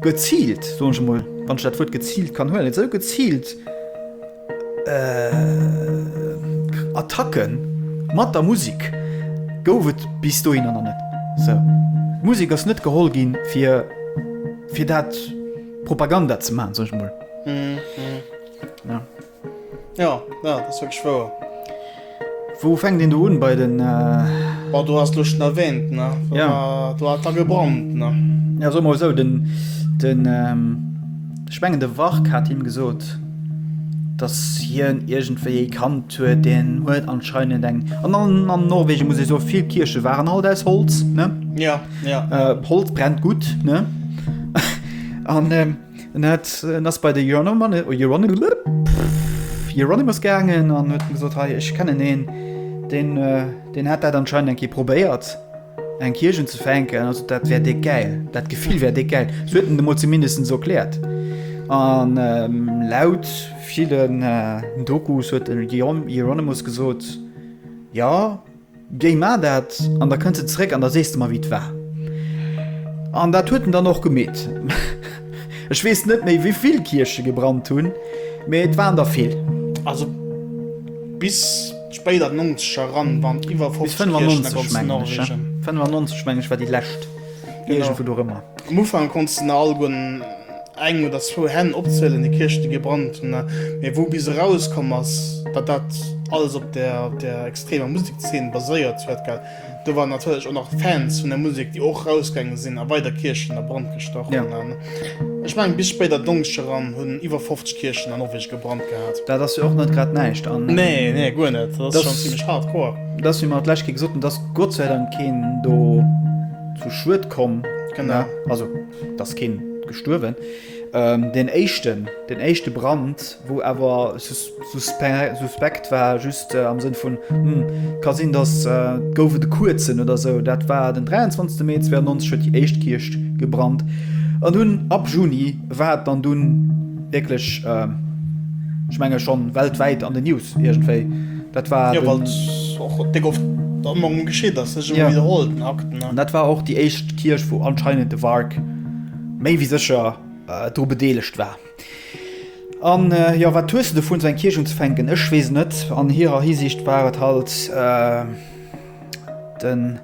geziilt, soen ech emol, wann ech dat Wuert geziilt kann huelen, sou geziilt. Attacke mat der Musek gouf et bis dohin awer net. D'Musek ass net geholl ginn, fir dat Propaganda ze maachen, soen ech emol. Wou fänkt een do un bei den. Bon, do ass elo schon erwähnt, ne? Ja. Do hat da gebrannt, ne? Ja, soe mer mol esou, den, den, ech mengen de Wark hat him gesot, dass hien iergendwéi ee kannt huet, deen huet anscheinend eng, an, an, an Norwegen muss ech soe vill Kierche waren alt aus Holz, ne? Ja, ja. Holz brennt gutt, ne? An, En hat en ass bei de Euronymous gaangen an huet gesot hei ech kennen een deen deen hat dat anscheinend eng Kéier probéiert eng Kierchen ze fänken, also dat wär déck gäil, dat Gefill wär déck gäil. Sou huet en et emol zumindest esou erkläert. An laut villen Dokus huet den Euronymous gesot, Jo. Géi mar dat an da kënns de zeréck an da sees de mer wéi et war. An dat huet en dann och gemeet. Ech weess net méi wéivill Kierche gebrannt hunn, mee et waren der vill. Also bis spéit an d'Nonzeger eran waren et iwwer 50 Kierchen a ganz Norwegen. Bis 95 mengen ech war déi lescht, iergendwou dorëmmer. Am Ufank konnts de nach alleguerten Eng oder zwou Hänn opzielen, déi Kierchten gebrannt hunn, mee wou bis eraus komm ass, datt dat alles op der extremer Musekszeen baséiert huet, gell, do waren natierlech och nach Fans vun der Musek, déi och rausgaange sinn a weider Kierchen a Brand gestach hunn. Ech mengen, bis spéit an d'Donkeschd eran hunn iwwer 50 Kierchen a Norwegen gebrannt gehat. Dat ass jo och net grad näischt. Nee, nee, guer net. Dat ass schonn zimlech hardcore. Et ass, wéi mer et d'lescht Kéier gesot hunn, et ass Gott sei Dank keen do zu Schued komm. Genau. Also. D'ass keen gestuerwen. Deen éischten, deen éischte Brand, wou awer suspekt war, just am Sënn vun, hm, ka sinn, datt et gouf et e kuerzen oder esou, dat war den 23 Mee 92, huet déi éischt Kierch gebrannt. An dunn ab Juni war et dann dunn wierklech, ech menge schonn weltwäit an den News iergendwéi. Dat war den... Ja, wat och déck oft am Mond geschitt ass, sech ëmmer widderholl, den Akten, ne? An dat war och déi éischt Kierch, wou anscheinend de Wark méi wéi sécher dru bedeelegt war. An, jo, wat hues de dovun, esou eng Kierch unzefänken? Ech weess net. An hirer Hisiicht war et halt. den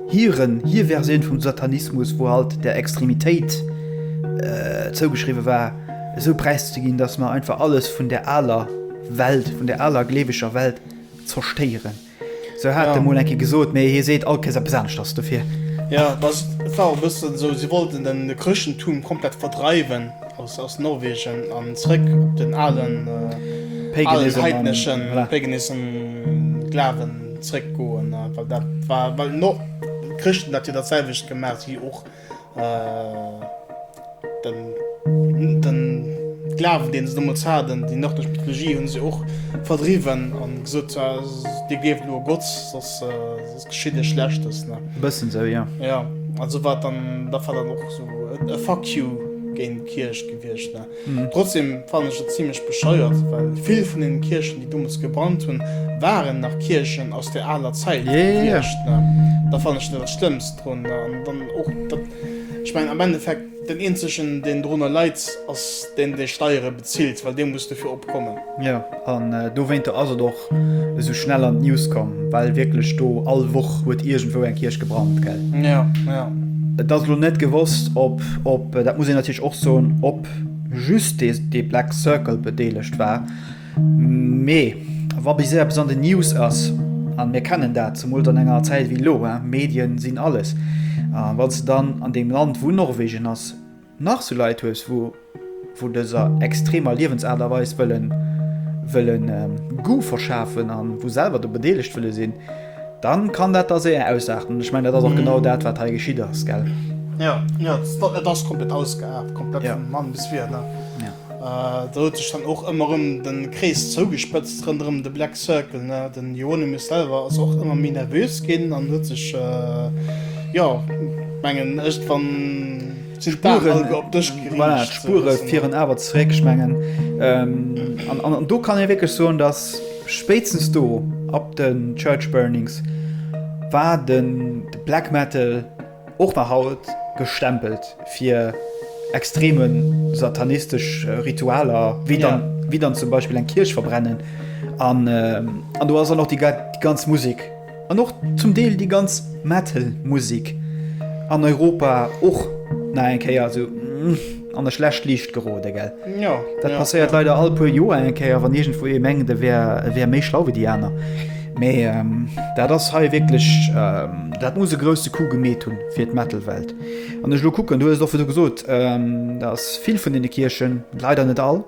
hiren, hir Versioun vum Satanismus, wou halt der Extremitéit äh, zougeschriwwe war, esou präiszeginn, dass mer einfach alles vun der aler Welt, vun der aler gleeweger Welt zerstéieren. So hat ja. de Molenki gesot, méi hie seet all Kees eppes aneschters dofir. Ja, das war e bëssen esou, si wollten den, de Chrëschtentum komplett verdreiwen. Aus Norwegen an zréck op den alen heidneschen, paganism, Glawen zréck goen, well dat war, well d'Chrëschten dat jo dat selwecht gemaacht wéi och den Glawen deen se deemools haten. Déi nördlech Mythologie hunn se och verdriwwen an gesot, dir gleeft elo e Gott, soss. Verschidde Schlechtes, ne? E bëssen esou, jo. Jo, also wat dann, dat war dann och esou e Fuck you géint d'Kierch gewiescht, ne? Trotzdem fannen ech et zimlech bescheuert, well vill vun deenen Kierchen, déi dommels gebrannt hunn, waren nach Kierchen aus der aler Zäit gewiescht, ne? Dat fannen ech net dat Schlëmmst drun, ne? An dann och dat, ech mengen am Endeffekt, Den eenzegen deen dorunner leit ass deen dee Steiere bezilt, well dee muss dofir opkommen. Jo, an dowéinter ass et och esou schnell an d'News komm, well wierklech do all Woch huet iergendwou eng Kierch gebrannt, gell? Jo, jo. Et ass elo net gewosst, ob, ob, dat muss een natierlech och soen, ob just dee Black Circle bedeelegt war. Mee wa bis eppes an den News ass, an mir kennen dat, zemools an enger Zäit wéi elo, Medien sinn alles, a wanns de dann an deem Land wou Norwegen ass nach sou Leit hues wou vu dëser extremer Liewensaart a Weis wëllen wëllen Goût verschafen an wou selwer do bedeelegt wëlle sinn, dann kann dat da séier ausarten. Ech mengen dat ass och genau dat wat hei geschitt ass, gell? Jo, jo, et ass komplett ausgeart, komplett vun Mann bis Wier, ne? Do huet sech dann och ëmmer erëm de Krees zougespëtzt ronderëm de Black Circle. De Hieronymus selwer ass och ëmmer méi nervös ginn an huet sech, jo, mengen ech, wann d'Spuren op dësch geriicht. Voilà, d'Spure fieren awer zeréck, ech mengen. An do kann ee wierklech soen, datt spéitstens do, ab de Church Burnings, war de Black Metal, Och nach haut gestempelt fir extreme satanistesch Ritualer, wéi dann zum Beispill eng Kierch verbrennen. An do ass dann och déi ganz Musek an och zum Deel déi ganz Metal-Musek an Europa och nach eng Kéier esou. An der schlecht Liicht gerode gell? Jo dat passéiert leider all puer Joer eng Kéier wann iergendwou ee mengt e wär e wär méi schlau wéi déi aner. Mee dat ass hei wierklech dat muss e grousse Coup gemeet hunn fir d'Metal-Welt. Wann ech elo kucken, du hues et och virdu gesot, da ass vill vun deene Kierchen, leider net all,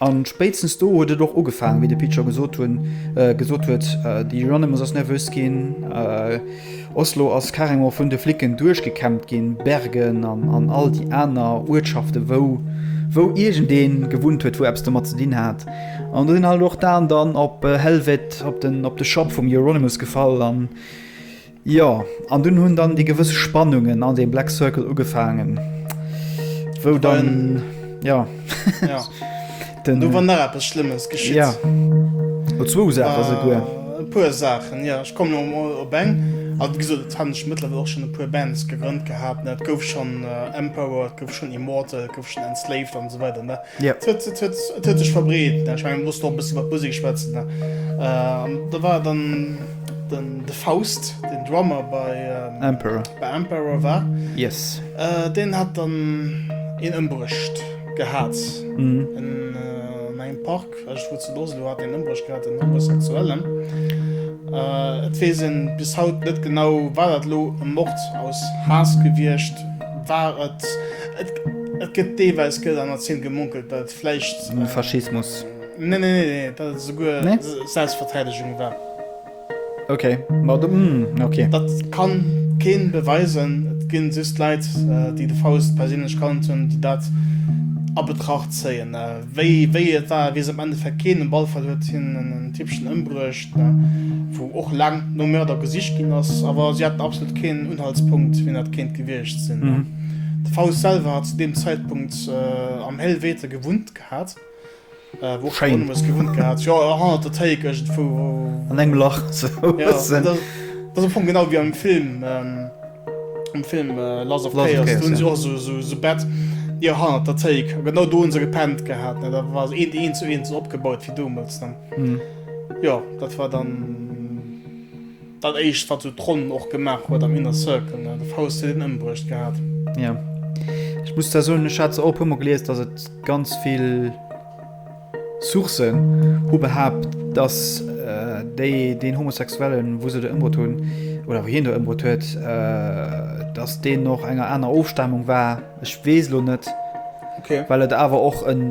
An spéitstens do huet et och ugefaangen, wéi de Pit scho gesot hunn, gesot huet, de Euronymous ass nervös ginn, Oslo ass carrément vun de Flicken duerchgekämmt ginn, Bergen an all déi aner Uertschaften, wou, wou iergendeen gewunnt huet, wou eppes domat ze dinn hat. An do sinn halt och d'Aen dann op Helvete, op de Shop vum Euronymous gefall an, Jo, an dunn hunn dann déi gewëss Spannungen an deem Black Circle ugefaangen, wou dann, jo, den. Do war nach eppes Schlëmmes geschitt. Jo, no zwou Saache souguer. E puer Saachen, jo. Ech kommen elo emol op eng. Also, wéi gesot, et hat scho mëttlerweil och schonn e puer Bands gegrënnt gehat, ne. Et gouf schonn Emperor, et gouf schonn Immortal, et gouf schonn Enslaved an esou weider, ne. Jo. Et huet, et huet, et huet sech verbreet, ne. Ech mengen, mir mussen och e bësse iwwert d'Musek schwätzen, ne. Da war dann. De Faust, den Drummer bei Emperor war, deen hat dann een ëmbruecht gehat an engem Park. Ech weess net, wou ze loossen, do hat een ëmbruecht gehat, den Homosexuellen. Et weess ee bis haut net genau, war dat elo e Mord aus Haass gewiescht, war et. Et gëtt deelweis, gëtt an der Zeen gemunkelt, datt et vläicht. Faschismus. Nee, nee, nee, nee, dat ass souguer nee? Selbstverteidigung war. Okay, ma du, mm, okay. Dat kann keen beweisen. Et ginn just Leit, äh, déi de Faust perséinlech kannt hunn, déi dat a Betracht zéien. Äh, wéi, wéi et war, wees am Endeffekt keen. Um Ballfall huet hien en Tippchen ëmbruecht, äh, wou och laang no Mörder gesicht ginn ass. Awer si haten absolut keen Unhaltspunkt, wien dat kéint gewiescht sinn. Mhm. De Faust selwer hat zu deem Zäitpunkt äh, am Helvete gewunnt gehat. Schein. An engem Lach. Genau wie am Film ähm, am Film äh, Lass of Chaos, Chaos ja. auch so, so, so Bett ja, ha, der Take. genau do se gepennt gehabt ne? da war een een zu een opgebaut wie du muss dann mhm. ja dat war dann Dat éischt wat sou d'Ronn och gemaach huet am Inner Circle, ne? De Faust huet een ëmbruecht gehat. Jo. Ech muss da soen, ech hat se och e puermol gelies, dass et ganz vill Sourcen hu behaapt, dass déi deen Homosexuellen, wou se do ëmbruet hunn, oder wou hien do ëmbruet huet, dass deen och enger aner Ofstamung war, Ech weess lo net, well et awer och en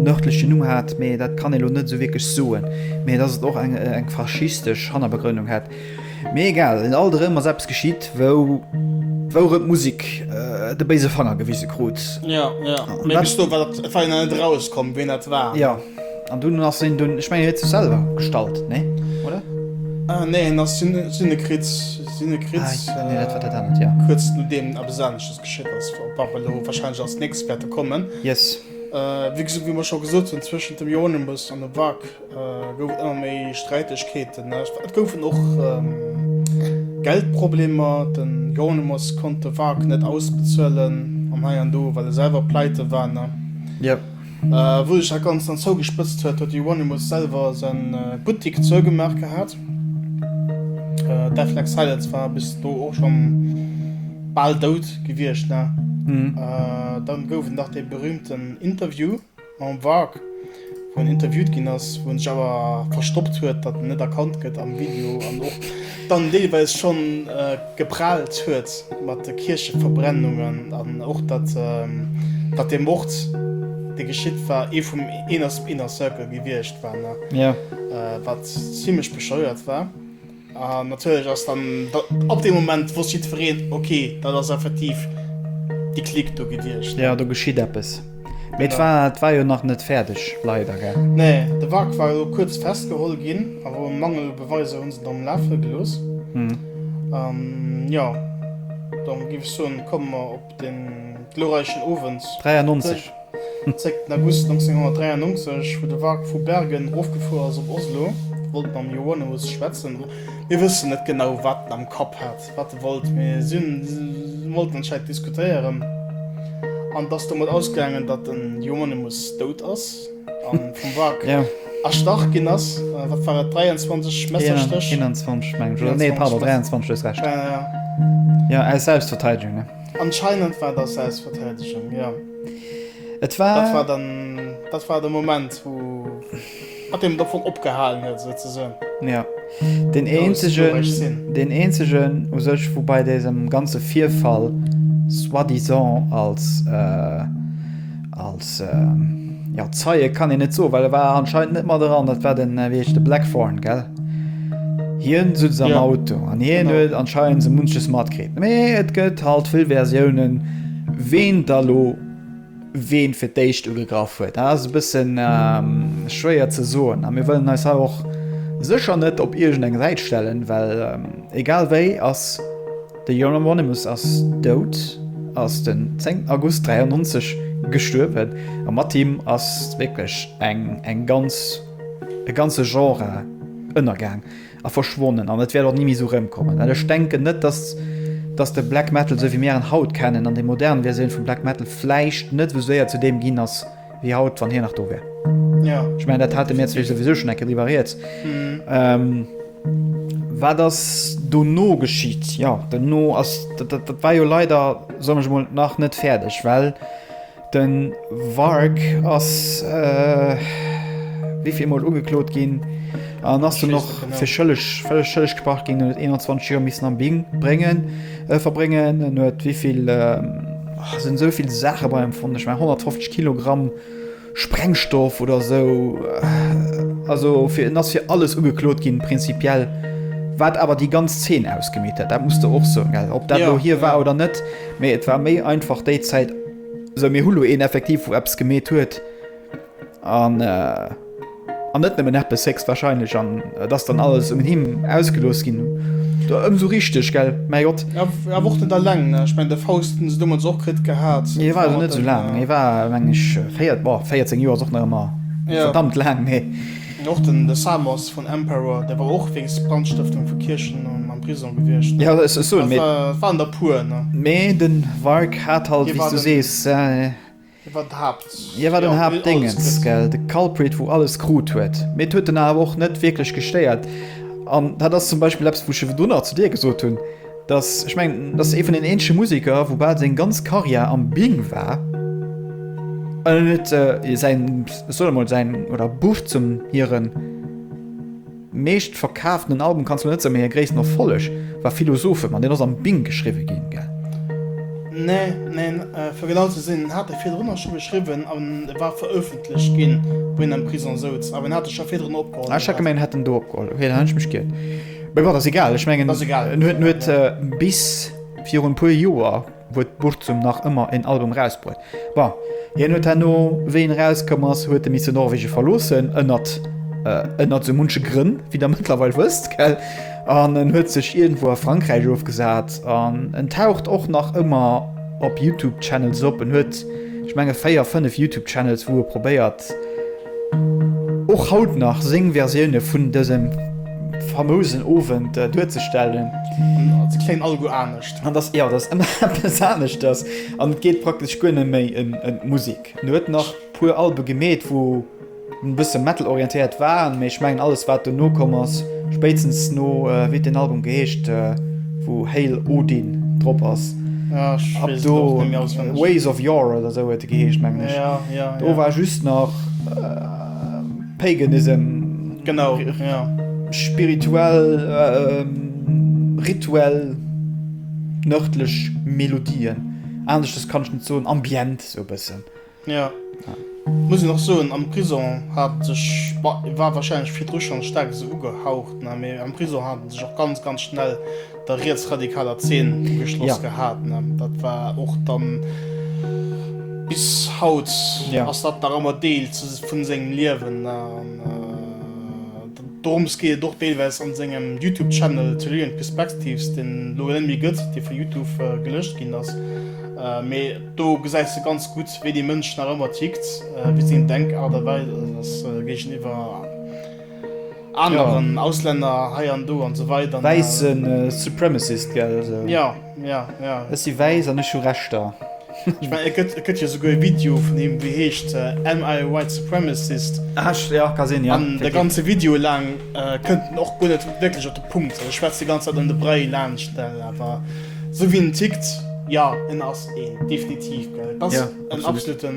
nërdlechen Numm hat, mee dat kann ee lo net esou wierklech soen. Mee dass et och eng faschistesch Hannerbegrënnung hätt, mee egal. Et alt erëm ass eppes geschitt, wourëmt d'Musek de béise Fanger gewise krut. Jo, jo. Mee bis do war dat Feier nach net erauskomm, wien dat war. Jo. An dunn ass hien dunn, ech mengen, hien huet sech selwer gestallt, nee? Oder? Ah, nee, hien ass Synekriz, Synekriz, kuerz nodeem eppes anescht. Shit ass fort pap elo wahrscheinlech ass nix wäerte kommen. Yes. Wéi gesot, wéi mer scho gesot hunn, zwëschent dem Euronymous an dem Vag gouf et ëmmer méi Sträitegkeeten. Et goufen och Geldproblemer, den Euronymous konnt de Vag net ausbezuelen an hei an do, well e selwer pleite war, ne? Yep. Wou sech dat Ganzt dann zougespëtzt huet, huet de Euronymous selwer säi Buttik zougemaach gehat. Deathlag Silence war bis do och scho bal dout gewiescht. Dann gouf et nach dee berühmten Interview mam Varg, wou en interviewt ginn ass, wou en sech awer verstoppt huet, datt en net erkannt gëtt am Video. dann deelweis schonn geprahlt huet mat de Kiercheverbrennungen an och datt datt dee Mord dee geschitt war ee vum Inner Circle gewiescht war, ne? Wat zimlech bescheuert war. An natierlech ass dann ab deem Moment wosst jiddwereen, ok, dat ass effektiv déi Clique do gewiescht. Jo, do geschitt eppes. Mee et war, et war jo nach net fäerdeg, leider, gell? Nee, de Wrak war elo kuerz festgeholl ginn, awer um Mangel u Beweiser hunn se dann lafe gelooss. An jo, dann géif ech soen, komme mer op den glorreichen Owend 93. zréck, den August 1993, wou de Wrak vu Bergen erofgefuer ass op Oslo, wollt mam Johannes schwätzen, mir wëssen net genau, wat en am Kapp hat. wat de wollt, mee si wollten anscheinend diskutéieren an et ass domat ausgaangen, datt den Hieronymus dout ass a vum Warg erstach ginn ass. Wat war et? 23 Messerstéch? 21 mengen ech, nee pardon, 23, du hues Recht. Jo, aus Selbstverteidegung, ne? Anscheinend war et aus Selbstverteidegung, jo. Et war. Dat war dann, dat war de Moment, wou. Hat een et op opgehalen huet esou ze soen. Jo, deen eenzegen, deen eenzegen u sech, wou bei désem ganze Virfall soi-disant als, als, jo, Zeie kann een net soen, well e war anscheinend net mat eran, dat war den, wéi heescht e, Blackthorne, gell? Hien souz am Auto an hien huet anscheinend sou munches matkritt. Mee et gëtt halt vill Versiounen, ween da lo. ween fir d'éischt ugegraff huet. Dat ass e bëssen schwéier ze soen a mir wëllen eis hei och sécher net op iergend eng Säit stellen, well egal wéi ass de Euronymous ass dout, ass den 10 August 93 gestuerwen a mat him ass wierklech eng, eng ganz, e ganze Genre ënnergaang. A verschwonnen an et wäert och ni méi esou rëmkommen, well ech denken net, dass, dass de Black Metal, esou wéi mir en haut kennen, an déi modern Versioun vum Black Metal vläicht net esou séier zu deem ginn ass wéi haut, wann hien nach do wär. Ech mengen, dat hate mir zwee souwisou schonn eng Kéier driwwer rieds. Wat ass dono geschitt? Jo, dono ass, dat war jo leider, soen ech emol, nach net fäerdeg, well Den Wark ass wivill mol ugeklot ginn an ass dunn och fir schëlleg schëlleg gesprach ginn. En huet 21 Joer missen am Bing bréngen verbréngen. En huet wivill oh, sinn esou vill Saache bei em fonnt. Ech mein 150 Kilogramm Sprengstoff oder esou. Also fir en ass fir alles ugeklot ginn prinzipiell. Wat awer déi ganz Zeen ausgemeet huet, dat muss de och soen, gell, ob dat lo hie war oder net, mee et war méi einfach déi Zäit Sou, mir hu lo een effektiv, wou eppes gemeet huet an an net nëmmen eppes, héchstwahrscheinlech. An et ass dann alles un him ausgelooss ginn. Do ëmsou richteg, gell? Mäi Gott! Jo, awer och net alleng, ne? Ech mengen, de Faust hunn se deemools och kritt gehat. Hie war jo net esou laang. Hie war, meng ech, véiert, boah, 14 Joer ass och nach ëmmer verdammt laang, mee. An och den de Samos vun Emperor, dee war och wéinst Brandstëftung vu Kierchen am Prisong gewiescht. Ja, dat ass soen, mee. Et waren der e puer, ne? Mee de Warg hat halt, wéi s du sees. Hie war d'Haapt. Hie war den Haaptdéngens, gell, de Culprit, wou alles krut huet. Mee et huet en awer och net wierklech gestéiert. An dat ass zum Beispill eppes, wou ech ewell dono zu dir gesot hunn. Dass, ech mengen, dass ee vun den eenzege Museker, wou bal seng ganz Karriär am Bing war, an en huet säin, ech soen emol, säin, oder Buff zum hire meeschtverkaaftenen Album, kanns du net soen, mee hire gréissten Erfolleg war Philosophem, an deen ass am Bing geschriwwe ginn, gell? Nee, neen, fir genau ze sinn, en hat e virdrun och scho geschriwwen, an e war verëffentlecht ginn, wou hien am Prisong souz, awer en hat e scho virdrun opgeholl. Ah, ech hat gemengt, en hätt en do opgeholl, okay, dann hunn ech mech giert. Mee bon, ass egal, ech mengen, en huet, en huet bis virun e puer Joer huet Burzum nach ëmmer en Album erausbruet. Bon, hien huet herno, wéi en erauskomm ass, huet e missen Norwegen verloossen, ënnert, ënnert esou munche Grënn, wéi der mëttlerweil wësst, gell? An en huet sech iergendwou a Frankräich ofgesat an en taucht och nach ëmmer op YouTube-Channels op. En huet, ech menge véier, fënnef YouTube-Channels, wou e probéiert, och haut nach seng Versioune vun dësem famousen Owend duerzestellen. Als kléngt alleguer anescht. An dass, jo, dass ëmmer eppes anescht ass an et geet praktesch guer net méi ëm d'Musek. En huet nach puer Albe gemeet, wou e bësse Metal-orientéiert waren, mee ech mengen alles, wat dono komm ass, Spéitstens no, wéi den Album geheescht wou Hail Odin drop ass, ab do Ways of Yore oder esou huet e geheescht mengen ech, do war just nach Paganism, spirituell, rituell nërdlech Melodien, aneschters kann ech net soen, ambient esou e bëssen. Jo, muss een och soen, am Prison hat en sech, bon, war wahrscheinlech virdru schonn staark esou ugehaucht, ne, mee am Prison hat en sech och ganz, ganz schnell der rietsradikaler Zeen ugeschloss gehat, ne. Dat war och dann, bis haut ass dat nach ëmmer Deel vun sengem Liewen, ne, an dorëms geet et och deelweis an sengem Youtube Channel Tellurian Perspectives, deen elo net méi gëtt, dee vu Youtube gelëscht ginn ass, mee. Do gesäis de ganz gutt, wéi dee Mënsch nach ëmmer tickt, wéi seng Denkart a Weis ass géigeniwwer aneren Auslänner hei an do an esou weider. Wäisse Supremacist, gell? Jo, jo, jo. Ech si wäiss an ech hu Rechter. Ech mengen, et gëtt jo souguer e Video vun him, dee heescht Am I a White Supremacist? Ah, jo, ka sinn, jo. An de ganze Video laang kënnt en och guer net wierklech op de Punkt. E schwätzt déi ganz Zäit ëm de Bräi laanscht, awer. Sou wéi en tickt, jo, en ass een, definitiv, gell. Et ass en absoluten,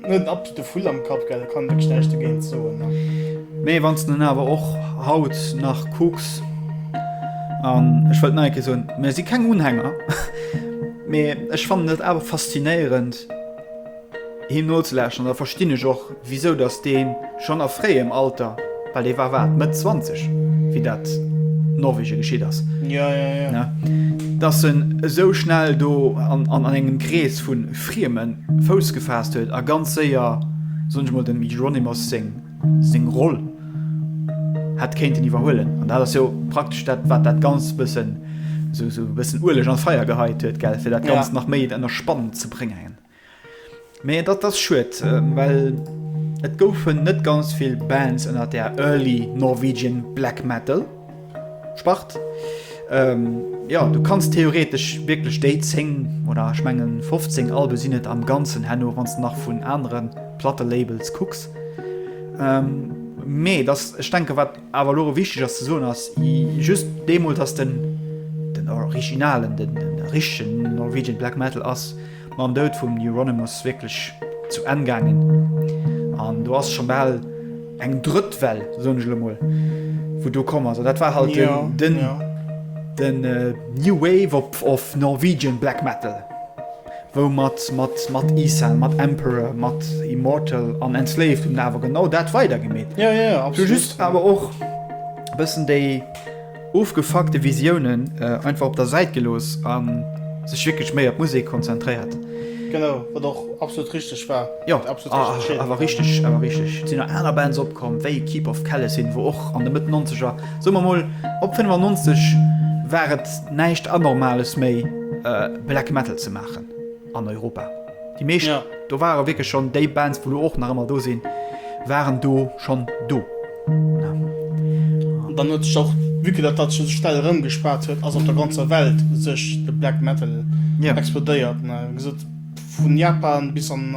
net en absolute Vull am Kapp, gell, kann wierklech näischt dogéint soen, ne. Mee wann s de en awer och haut nach kucks, an ech wëllt nach eng Kéier soen, mir si keng Unhänger, mee ech fannen et awer faszinéierend, Him nozelauschteren, da verstinn ech och, wisou datt dee schonn a fréiem Alter, well dee war, wat, Mëtt zwanzeg, wéi dat Norwegen geschitt ass, ne, datt en esou schnell do an engem Krees vu Frieme Fouss gefaasst huet a ganz séier, soen ech emol, dem Hieronymus seng Roll hätt kéinten iwwerhuelen. An dat ass jo praktesch dat, wat dat Ganzt e bëssen, esou e bëssen Ueleg an d'Feier geheit huet, gell, fir dat Ganzt nach méi ënner Spann ze bréngen. Mee dat ass schued, well et goufen net ganz vill Bands ënner der Early Norwegian Black Metal Spart. Jo, du kanns theoretesch wierklech déi 10, oder ech mengen 15 Albe sinn et am Ganzen herno, wann s de nach vun anere Plattelabels kucks. Mee et ass, ech denke wat. Awer elo erëm wichteg ass ze soen, ass just deemools ass den den originalen, den richtegen Norwegian Black Metal ass mam Doud vum Euronymous wierklech zu Enn gaangen. An do ass scho bal eng drëtt Well, soen ech elo mol, wou do komm ass. An dat war halt den den New Wave of Norwegian Black Metal. Wou mat mat Isang, mat Emperor, mat Immortal an Enslaved hunn awer genau dat weider gemeet. Jo jo jo absolut. Just awer och bëssen déi ofgefuckte Visiounen einfach op der Säit gelooss a sech wierklech méi op d'Musek konzentréiert. Genau, wat och absolut richteg war. Jo awer richteg awer richteg. Et sinn nach aner Bands opkomm wéi Keep of Kalesyn wou och an de Mëtt Nonzeger, soe mer mol op 95, war et näischt Anormales méi. Black Metal ze maachen an Europa. Déi meescht do ware wierklech schonn déi Bands, wou lo och nach ëmmer do sinn, waren do schonn do. An dann huet sech och, vue que dat dat sech esou schnell erëmgespaat huet, ass op der ganzer Welt sech de Black Metal explodéiert, ne, gesot. Vun Japan bis an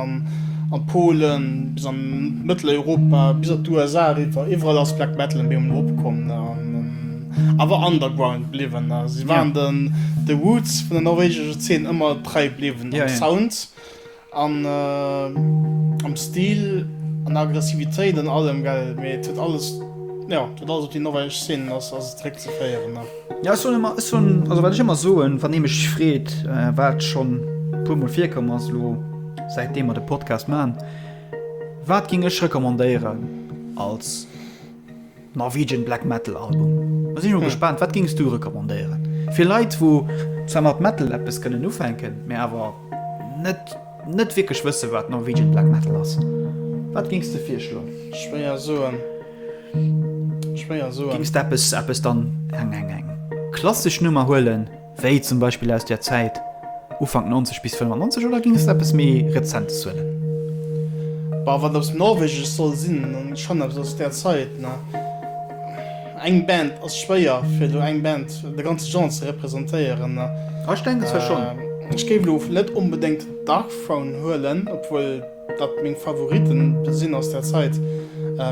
an Polen, bis an Mëtteleuropa, bis an d'USA eriwwer, iwwerall ass Black Metal en Beem eropkomm an awer underground bliwwen. Si waren den de Roots vun der norwegescher Zeen ëmmer trei bliwwen, am Sound an am Stil, an der Aggressivitéit an allem, mee et huet alles, jo, et huet alles op déi norwegesch Zeen ass ass et zeréckzeféieren. Ja ech soen ëmmer, ech soen, also wat ech ëmmer soen, wann ee mech freet, wat schonn e puer Mol virkomm ass elo, säit deem mer de Podcast maachen, Wat géing ech recommandéieren als Norwegian Black Metal Album? Da sinn ech mol gespaant, wat géings du recommandéieren? Fir Leit, wou zwar mat Metal eppes kënnen ufänken, mä awer net, net wierklech wësse wat Norwegian Black Metal ass, wat géings de virschloen? Schwéier soen. Schwéier soen. Géings de eppes, eppes dann eng, eng, eng klassesch Nummer huelen, wéi zum Beispill aus där Zäit Ufank 90 bis 95 oder géings de eppes méi Rezentes huelen? Bah, wat eppes Norwegesch soll sinn, dann schonn eppes aus där Zäit, ne. Eng Band ass schwéier, fir elo eng Band, de ganze Genre ze representéieren, ne. Ah, ech denken zwar schonn. Ech géif elo net onbedéngt Darkthrone huelen, obwuel. Wat meng Favoriten sinn aus der Zait,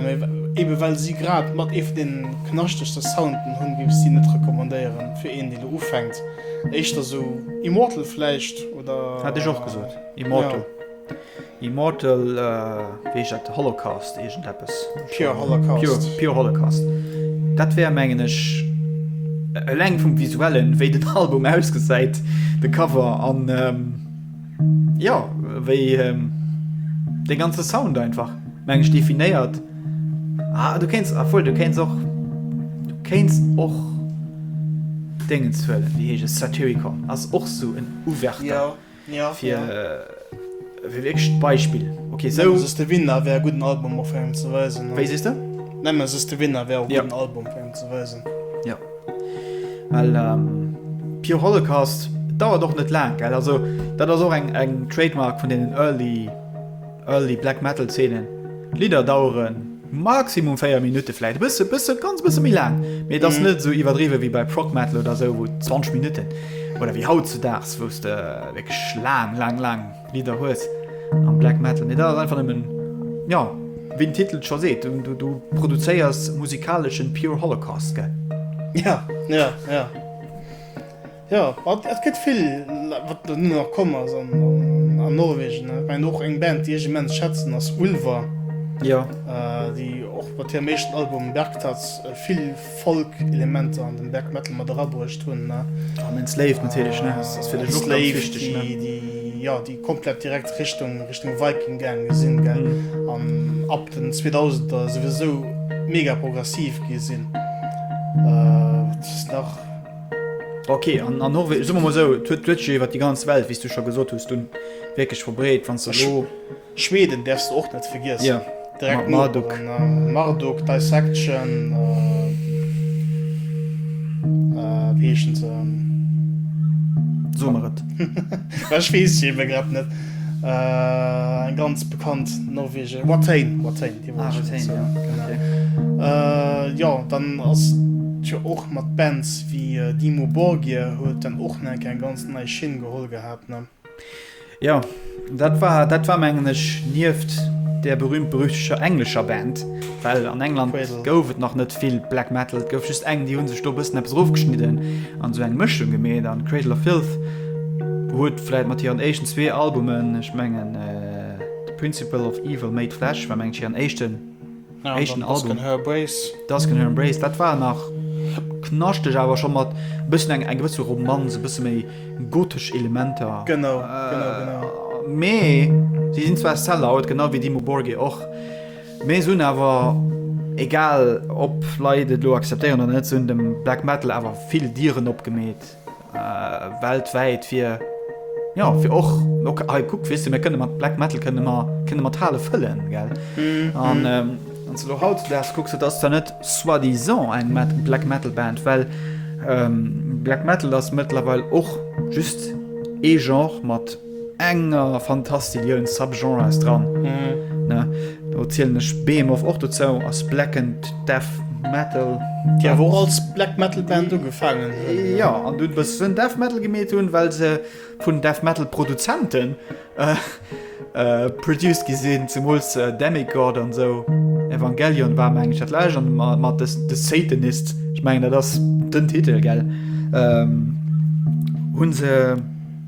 mee eben well sie grad mat ee vun den knaschtegsten Sounden hunn, géif ech sie net recommandéieren fir een deen elo ufänkt. Éischter esou Immortal vläicht oder. Hat ech och gesot Immortal. Immortal wéi heescht dat Holocaust iergend eppes. Pure Holocaust. Pure Holocaust dat wär mengen ech eleng vum visuellen wéi den Album ausgesäit, de Cover an. Jo, wéi de ganze Sound einfach meng ech definéiert ah, du kenns a voll du kenns och du kenns och Dengen zuuel wie heech es Satyricon ass och so en Uwärter fir wéiéischt Beispill ok sou de Winner wär guten Album op engem ze weisen wéi sees de? Nemme sos de Winner wär op engem Album op engem ze weisen. Well ähm, Pure Holocaust dauert och net laang gell. Also dat ass och eng eng Trademark vun den early early Black Metal Zeenen. D'Lidder daueren maximum 4 Minutte vläit bësse bësse ganz bësse méi laang. Mee dat ass net esou iwwerdriwwe wéi bei Prog Metal oder esou wou 20 Minutten oder wéi haut zu Daags wou's de wierklech laang laang laang. Lidder hues am Black Metal, mee dat ass einfach nëmmen, jo, wéi den Titel et scho seet, du produzéiers musikaleschen pure Holocaust, gell? Ja, ja, ja. Jo, et gëtt vill, wat elo nach komm ass an Norwegen. Ech mengen och eng Band, déi ech immens schätzen, ass Ulver, déi och mat hirem éischten Album Bergtatt vill. Folk-Elementer an den Black Metal mat erabruecht hunn. An den Slave natierlech, ne? Ass fir dech och ganz wichteg, ne? Slave, déi, jo, déi komplett direkt Richtung, Richtung Viking gaange sinn, gell? An ab den 2000er souwisou mega progressiv gi sinn. Wat ass nach? Ok, an, an Norwe, soe mer mol esou, d'huet, d'huet jo iwwer déi ganz Welt, wéi s du scho gesot hues, dunn wierklech verbreet, wann s de elo. Schweden därfs de och net vergiessen. Direkt Noperen, Marduk, Dissection, wéi heeschen se? So mer et. Ech weess se eben grad net. Eng ganz bekannt norwegesch, Watain, Watain, déi wollt ech elo soen. Jo, dann ass et jo och mat Bands wéi Dimmu Borgir, huet dann och nach eng ganz nei Schinn geholl gehat. Jo, dat war, dat war mengen ech nieft der berühmt-berüchteger englescher Band, well an England Quasar. gouf et nach net vill Black Metal. Et gouf just eng, déi hu sech do e bëssen eppes erofgeschnidden an esou eng Mëschung gemeet. An Cradle of Filth huet vläicht mat hiren éischten zwee Albumen, ech mengen The Principle of Evil Made Flesh war mengen ech hiren éischten, Eischten Album Dusk in her embrace dat war nach knaschteg awer scho mat bëssen eng eng gewësse Romanz, e bësse méi gotesch Elementer. Genau, genau, genau. Mee si sinn zwar Sellout, genau wéi Dimmu Borgir och, mee se hunn awer, egal ob Leit et elo acceptéieren oder net, se hunn dem Black Metal awer vill Dieren opgemeet. äh, weltwäit fir ja fir och okay, hey, guck wis mir kënne mat Black Metal kënne man kënne mat Hale fëllen gell mhm. an ähm, lo haut ders gucks du dass da net soit disant eng Met Black Metal Band well ähm, Black Metal ass mëttlerweil och just e genre mat enger Fantastiliouns Subgenres dran, ne, do zielen ech Behemoth och dozou, ass Black and Death Metal. Déi awer och als Black Metal Band ugefaangen hunn. Jo, an dunn e bëssen Death Metal gemeet hunn, well se vun Death Metal Produzenten produced gi sinn, zemools Demigod an esou. Evangelion war, mengen ech, dat lescht, an mat The Satanists, ech mengen dat ass den Titel, gell, hunn se.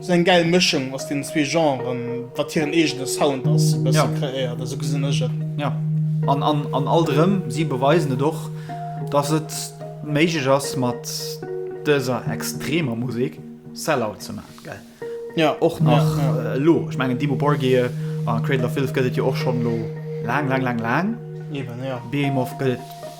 Sou eng gäil Mëschung aus den zwee Genren, wat hiren eegene Sound ass, e bësse kreéiert, esou gesinn ech et. Jo, an, an, an alt erëm, si beweisen et och, dass et méiglech ass mat dëser extremer Musek Sell-Out ze man, gell? Jo. Och nach elo, ech mengen Dimmu Borgir a Cradle of Filth gëtt et jo och schonn elo laang, laang, laang, laang. Eben, jo. Behemoth gëtt et.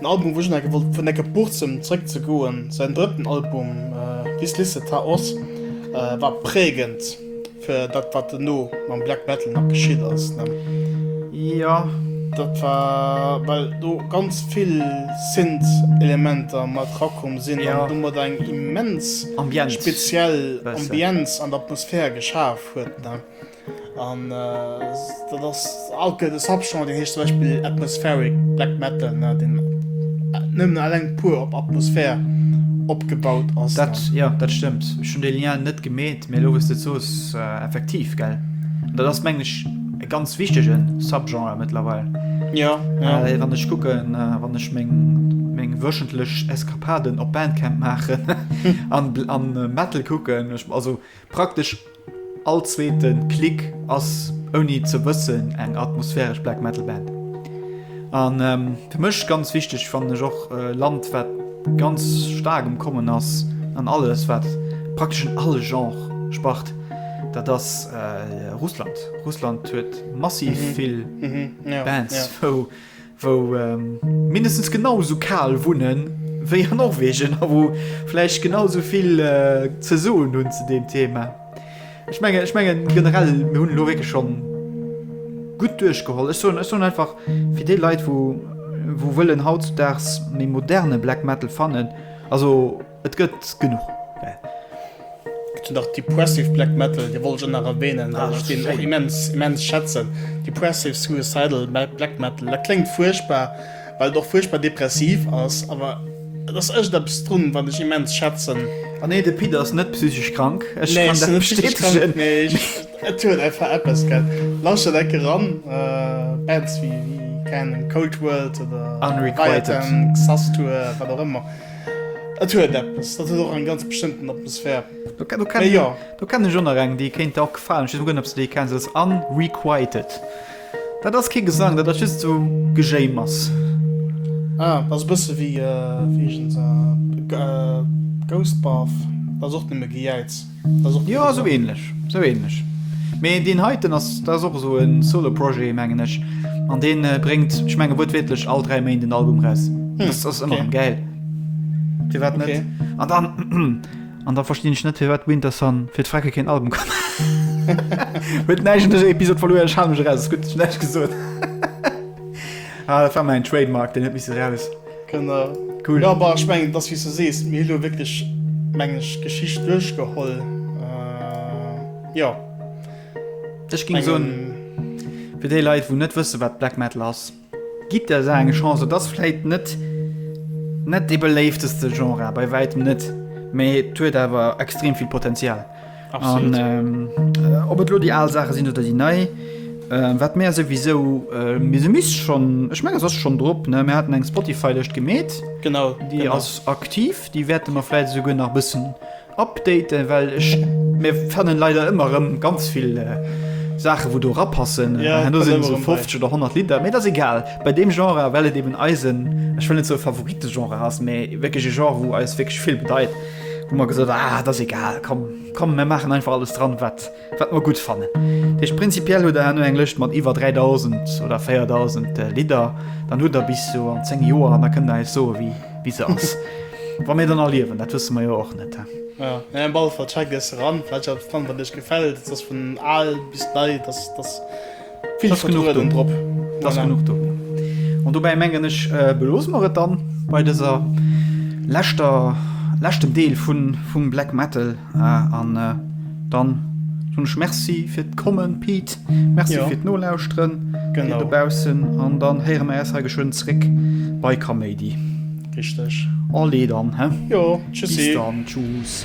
En Album wou ech enke wollt vun enke Burzem zréck ze goen. Säin drëtten Album Wisslisse ta oss war präägend fir dat wat dono mam Black Metal nach geschitt ass. Jo dat war well do ganz vill Synth Elementer mat rakomm sinn an domat eng immens speziell Ambienz an Atmosphär geschaf huet. An dat ass alt gëtt e Subgenre, deen heescht zum Beispill Atmospheric Black Metal, deen nëmmen eleng puer op Atmosphär opgebaut ass. Dat, jo, dat stëmmt. Ech hunn dee Lien net gemeet, mee elo wou s de et soos, effektiv, gell. An dat ass, mengen ech, e ganz wichtege Subgenre mëttlerweil. Jo, jo. Well wann ech kucken, wann ech meng wöchentlech Eskapaden op Bandcamp maachen an Metal kucken, also Praktesch all zweete Klick ass ouni ze wëssen eng atmosphäresch Black Metal Band. An fir mech ganz wichteg fannen ech och e Land wat ganz staark um kommen ass an alles wat praktesch un alle Genre spart, dat ass Russland. Russland huet massiv vill Bands wou. wou mindestens genau esou kal wunne wéi an Norwegen a wou vläicht genau esou vill ze soen hunn zu deem Thema. Ech menge ech menge generell mir hunn lo wéke schonn gutt duerchgeholl. Ech soen ech soen einfach fir déi Leit, wou wou wëllen hautzudags méi moderne Black Metal fannen, also. Et gëtt genuch. Zu nach Depressive Black Metal, dee wollt ech och nach erwähnen, well ech deen och immens, immens schätzen. Depressive Suicidal Black Metal, dat kléngt fuerchtbar, well et och fuerchtbar depressiv ass, awer et ass echt eppes drun, wat ech immens schätzen. A nee, de Pit ass net psychesch krank, ech kann dat bestätegen. Nee, ech, et huet einfach eppes, gell. Lauschtert enke ran, Bands wéi, wéi, keng Ahnung, Cold World oder Unrequited, Leviathan, Xasthur, wat och ëmmer. Et huet eppes, dat huet och eng ganz bestëmmten Atmosphär. Mee jo. Do kennen ech och nach eng, déi kéint der och gefalen. Ech weess guer net, ob s de déi kenns. Dat ass Unrequited. Dat ass kee Gesang, dat ass just esou Gejéimers. Ah, dat ass e bësse wéi, wéi eegent e Ghost Bath. Dat ass och nëmme Gejäiz. Jo esou ähnlech esou ähnlech mee deen heiten ass dat ass och esou en solo projet mengen ech an deen bréngt ech menge wuertwiertlech all 3 Méint en Album raus hm, das ass ëmmer okay. geil firwat net okay. an dann an da verstinn ech net firwat Winterson fir d'Frecke keen Album kann huet neigen Episode verloren schaumech raus gut net gesot ah, dat war mein Trademark den net miss raus. Kënner. Cool. Ja, bah, ich mein, das wie du sees, mir lo wirklich mengg Geschicht durchgeholl. Äh, ja. Ech ging so für die Leute, wo net wësse wat Black Metal ass. Gib der se eng Chance, das fläit net net de beléifteste Genre bei weitem net, mee huet awer extrem viel Potenzial. An ob et lo déi al Saache sinn oder déi nei, wat mär souwisou mir se misst schonn, ech menge se ass schonn drop, ne? Mir haten eng Spotify-Lëscht gemeet. Genau, déi ass aktiv, déi wäerte mer vläicht esouguer nach e bëssen updaten, well ech mir fannen leider ëmmer erëm ganz vill Saache wou do rapassen, an do sinn esou 50 oder 100 Lidder, mee et ass egal bei deem Genre, well et eben eisen, ech wëll net soe Favorite-Genre ass, mee wierklech e Genre wou eis wierklech vill bedeit. Hu mer gesot, ah, et ass egal, komm, komm, mir maachen einfach alles dran, wat, wat mer gutt fannen. Dat heescht, prinzipiell hutt Der herno eng Lëscht mat iwwer 3.000 oder 4.000 Lidder. Dann hutt Der bis sou an zéng Joer an da kënnt Der eis soen, wéi, wéi se ass. Wa mir dann nach liewen, dat wësse mer jo och net, he. Majo, mee op alle Fall, check dës eran, vläicht ass et spannend, wat Iech gefält. Et ass vun al bis nei, et ass, et ass. Vill Schrëtt drop. Dass genuch do. An dobäi mengen ech beloose mer et dann bei dëser leschter leschtem Deel vun vum Black Metal an dann hunn ech Merci fir d'Kommen Pete. Merci fir d'Nolauschteren gënn dobaussen an dann héiere mer äis hei geschwënn zréck bei Kaméidi. Richteg. Allez dann, he? Jo, tschüssi. Bis dann, tschüss.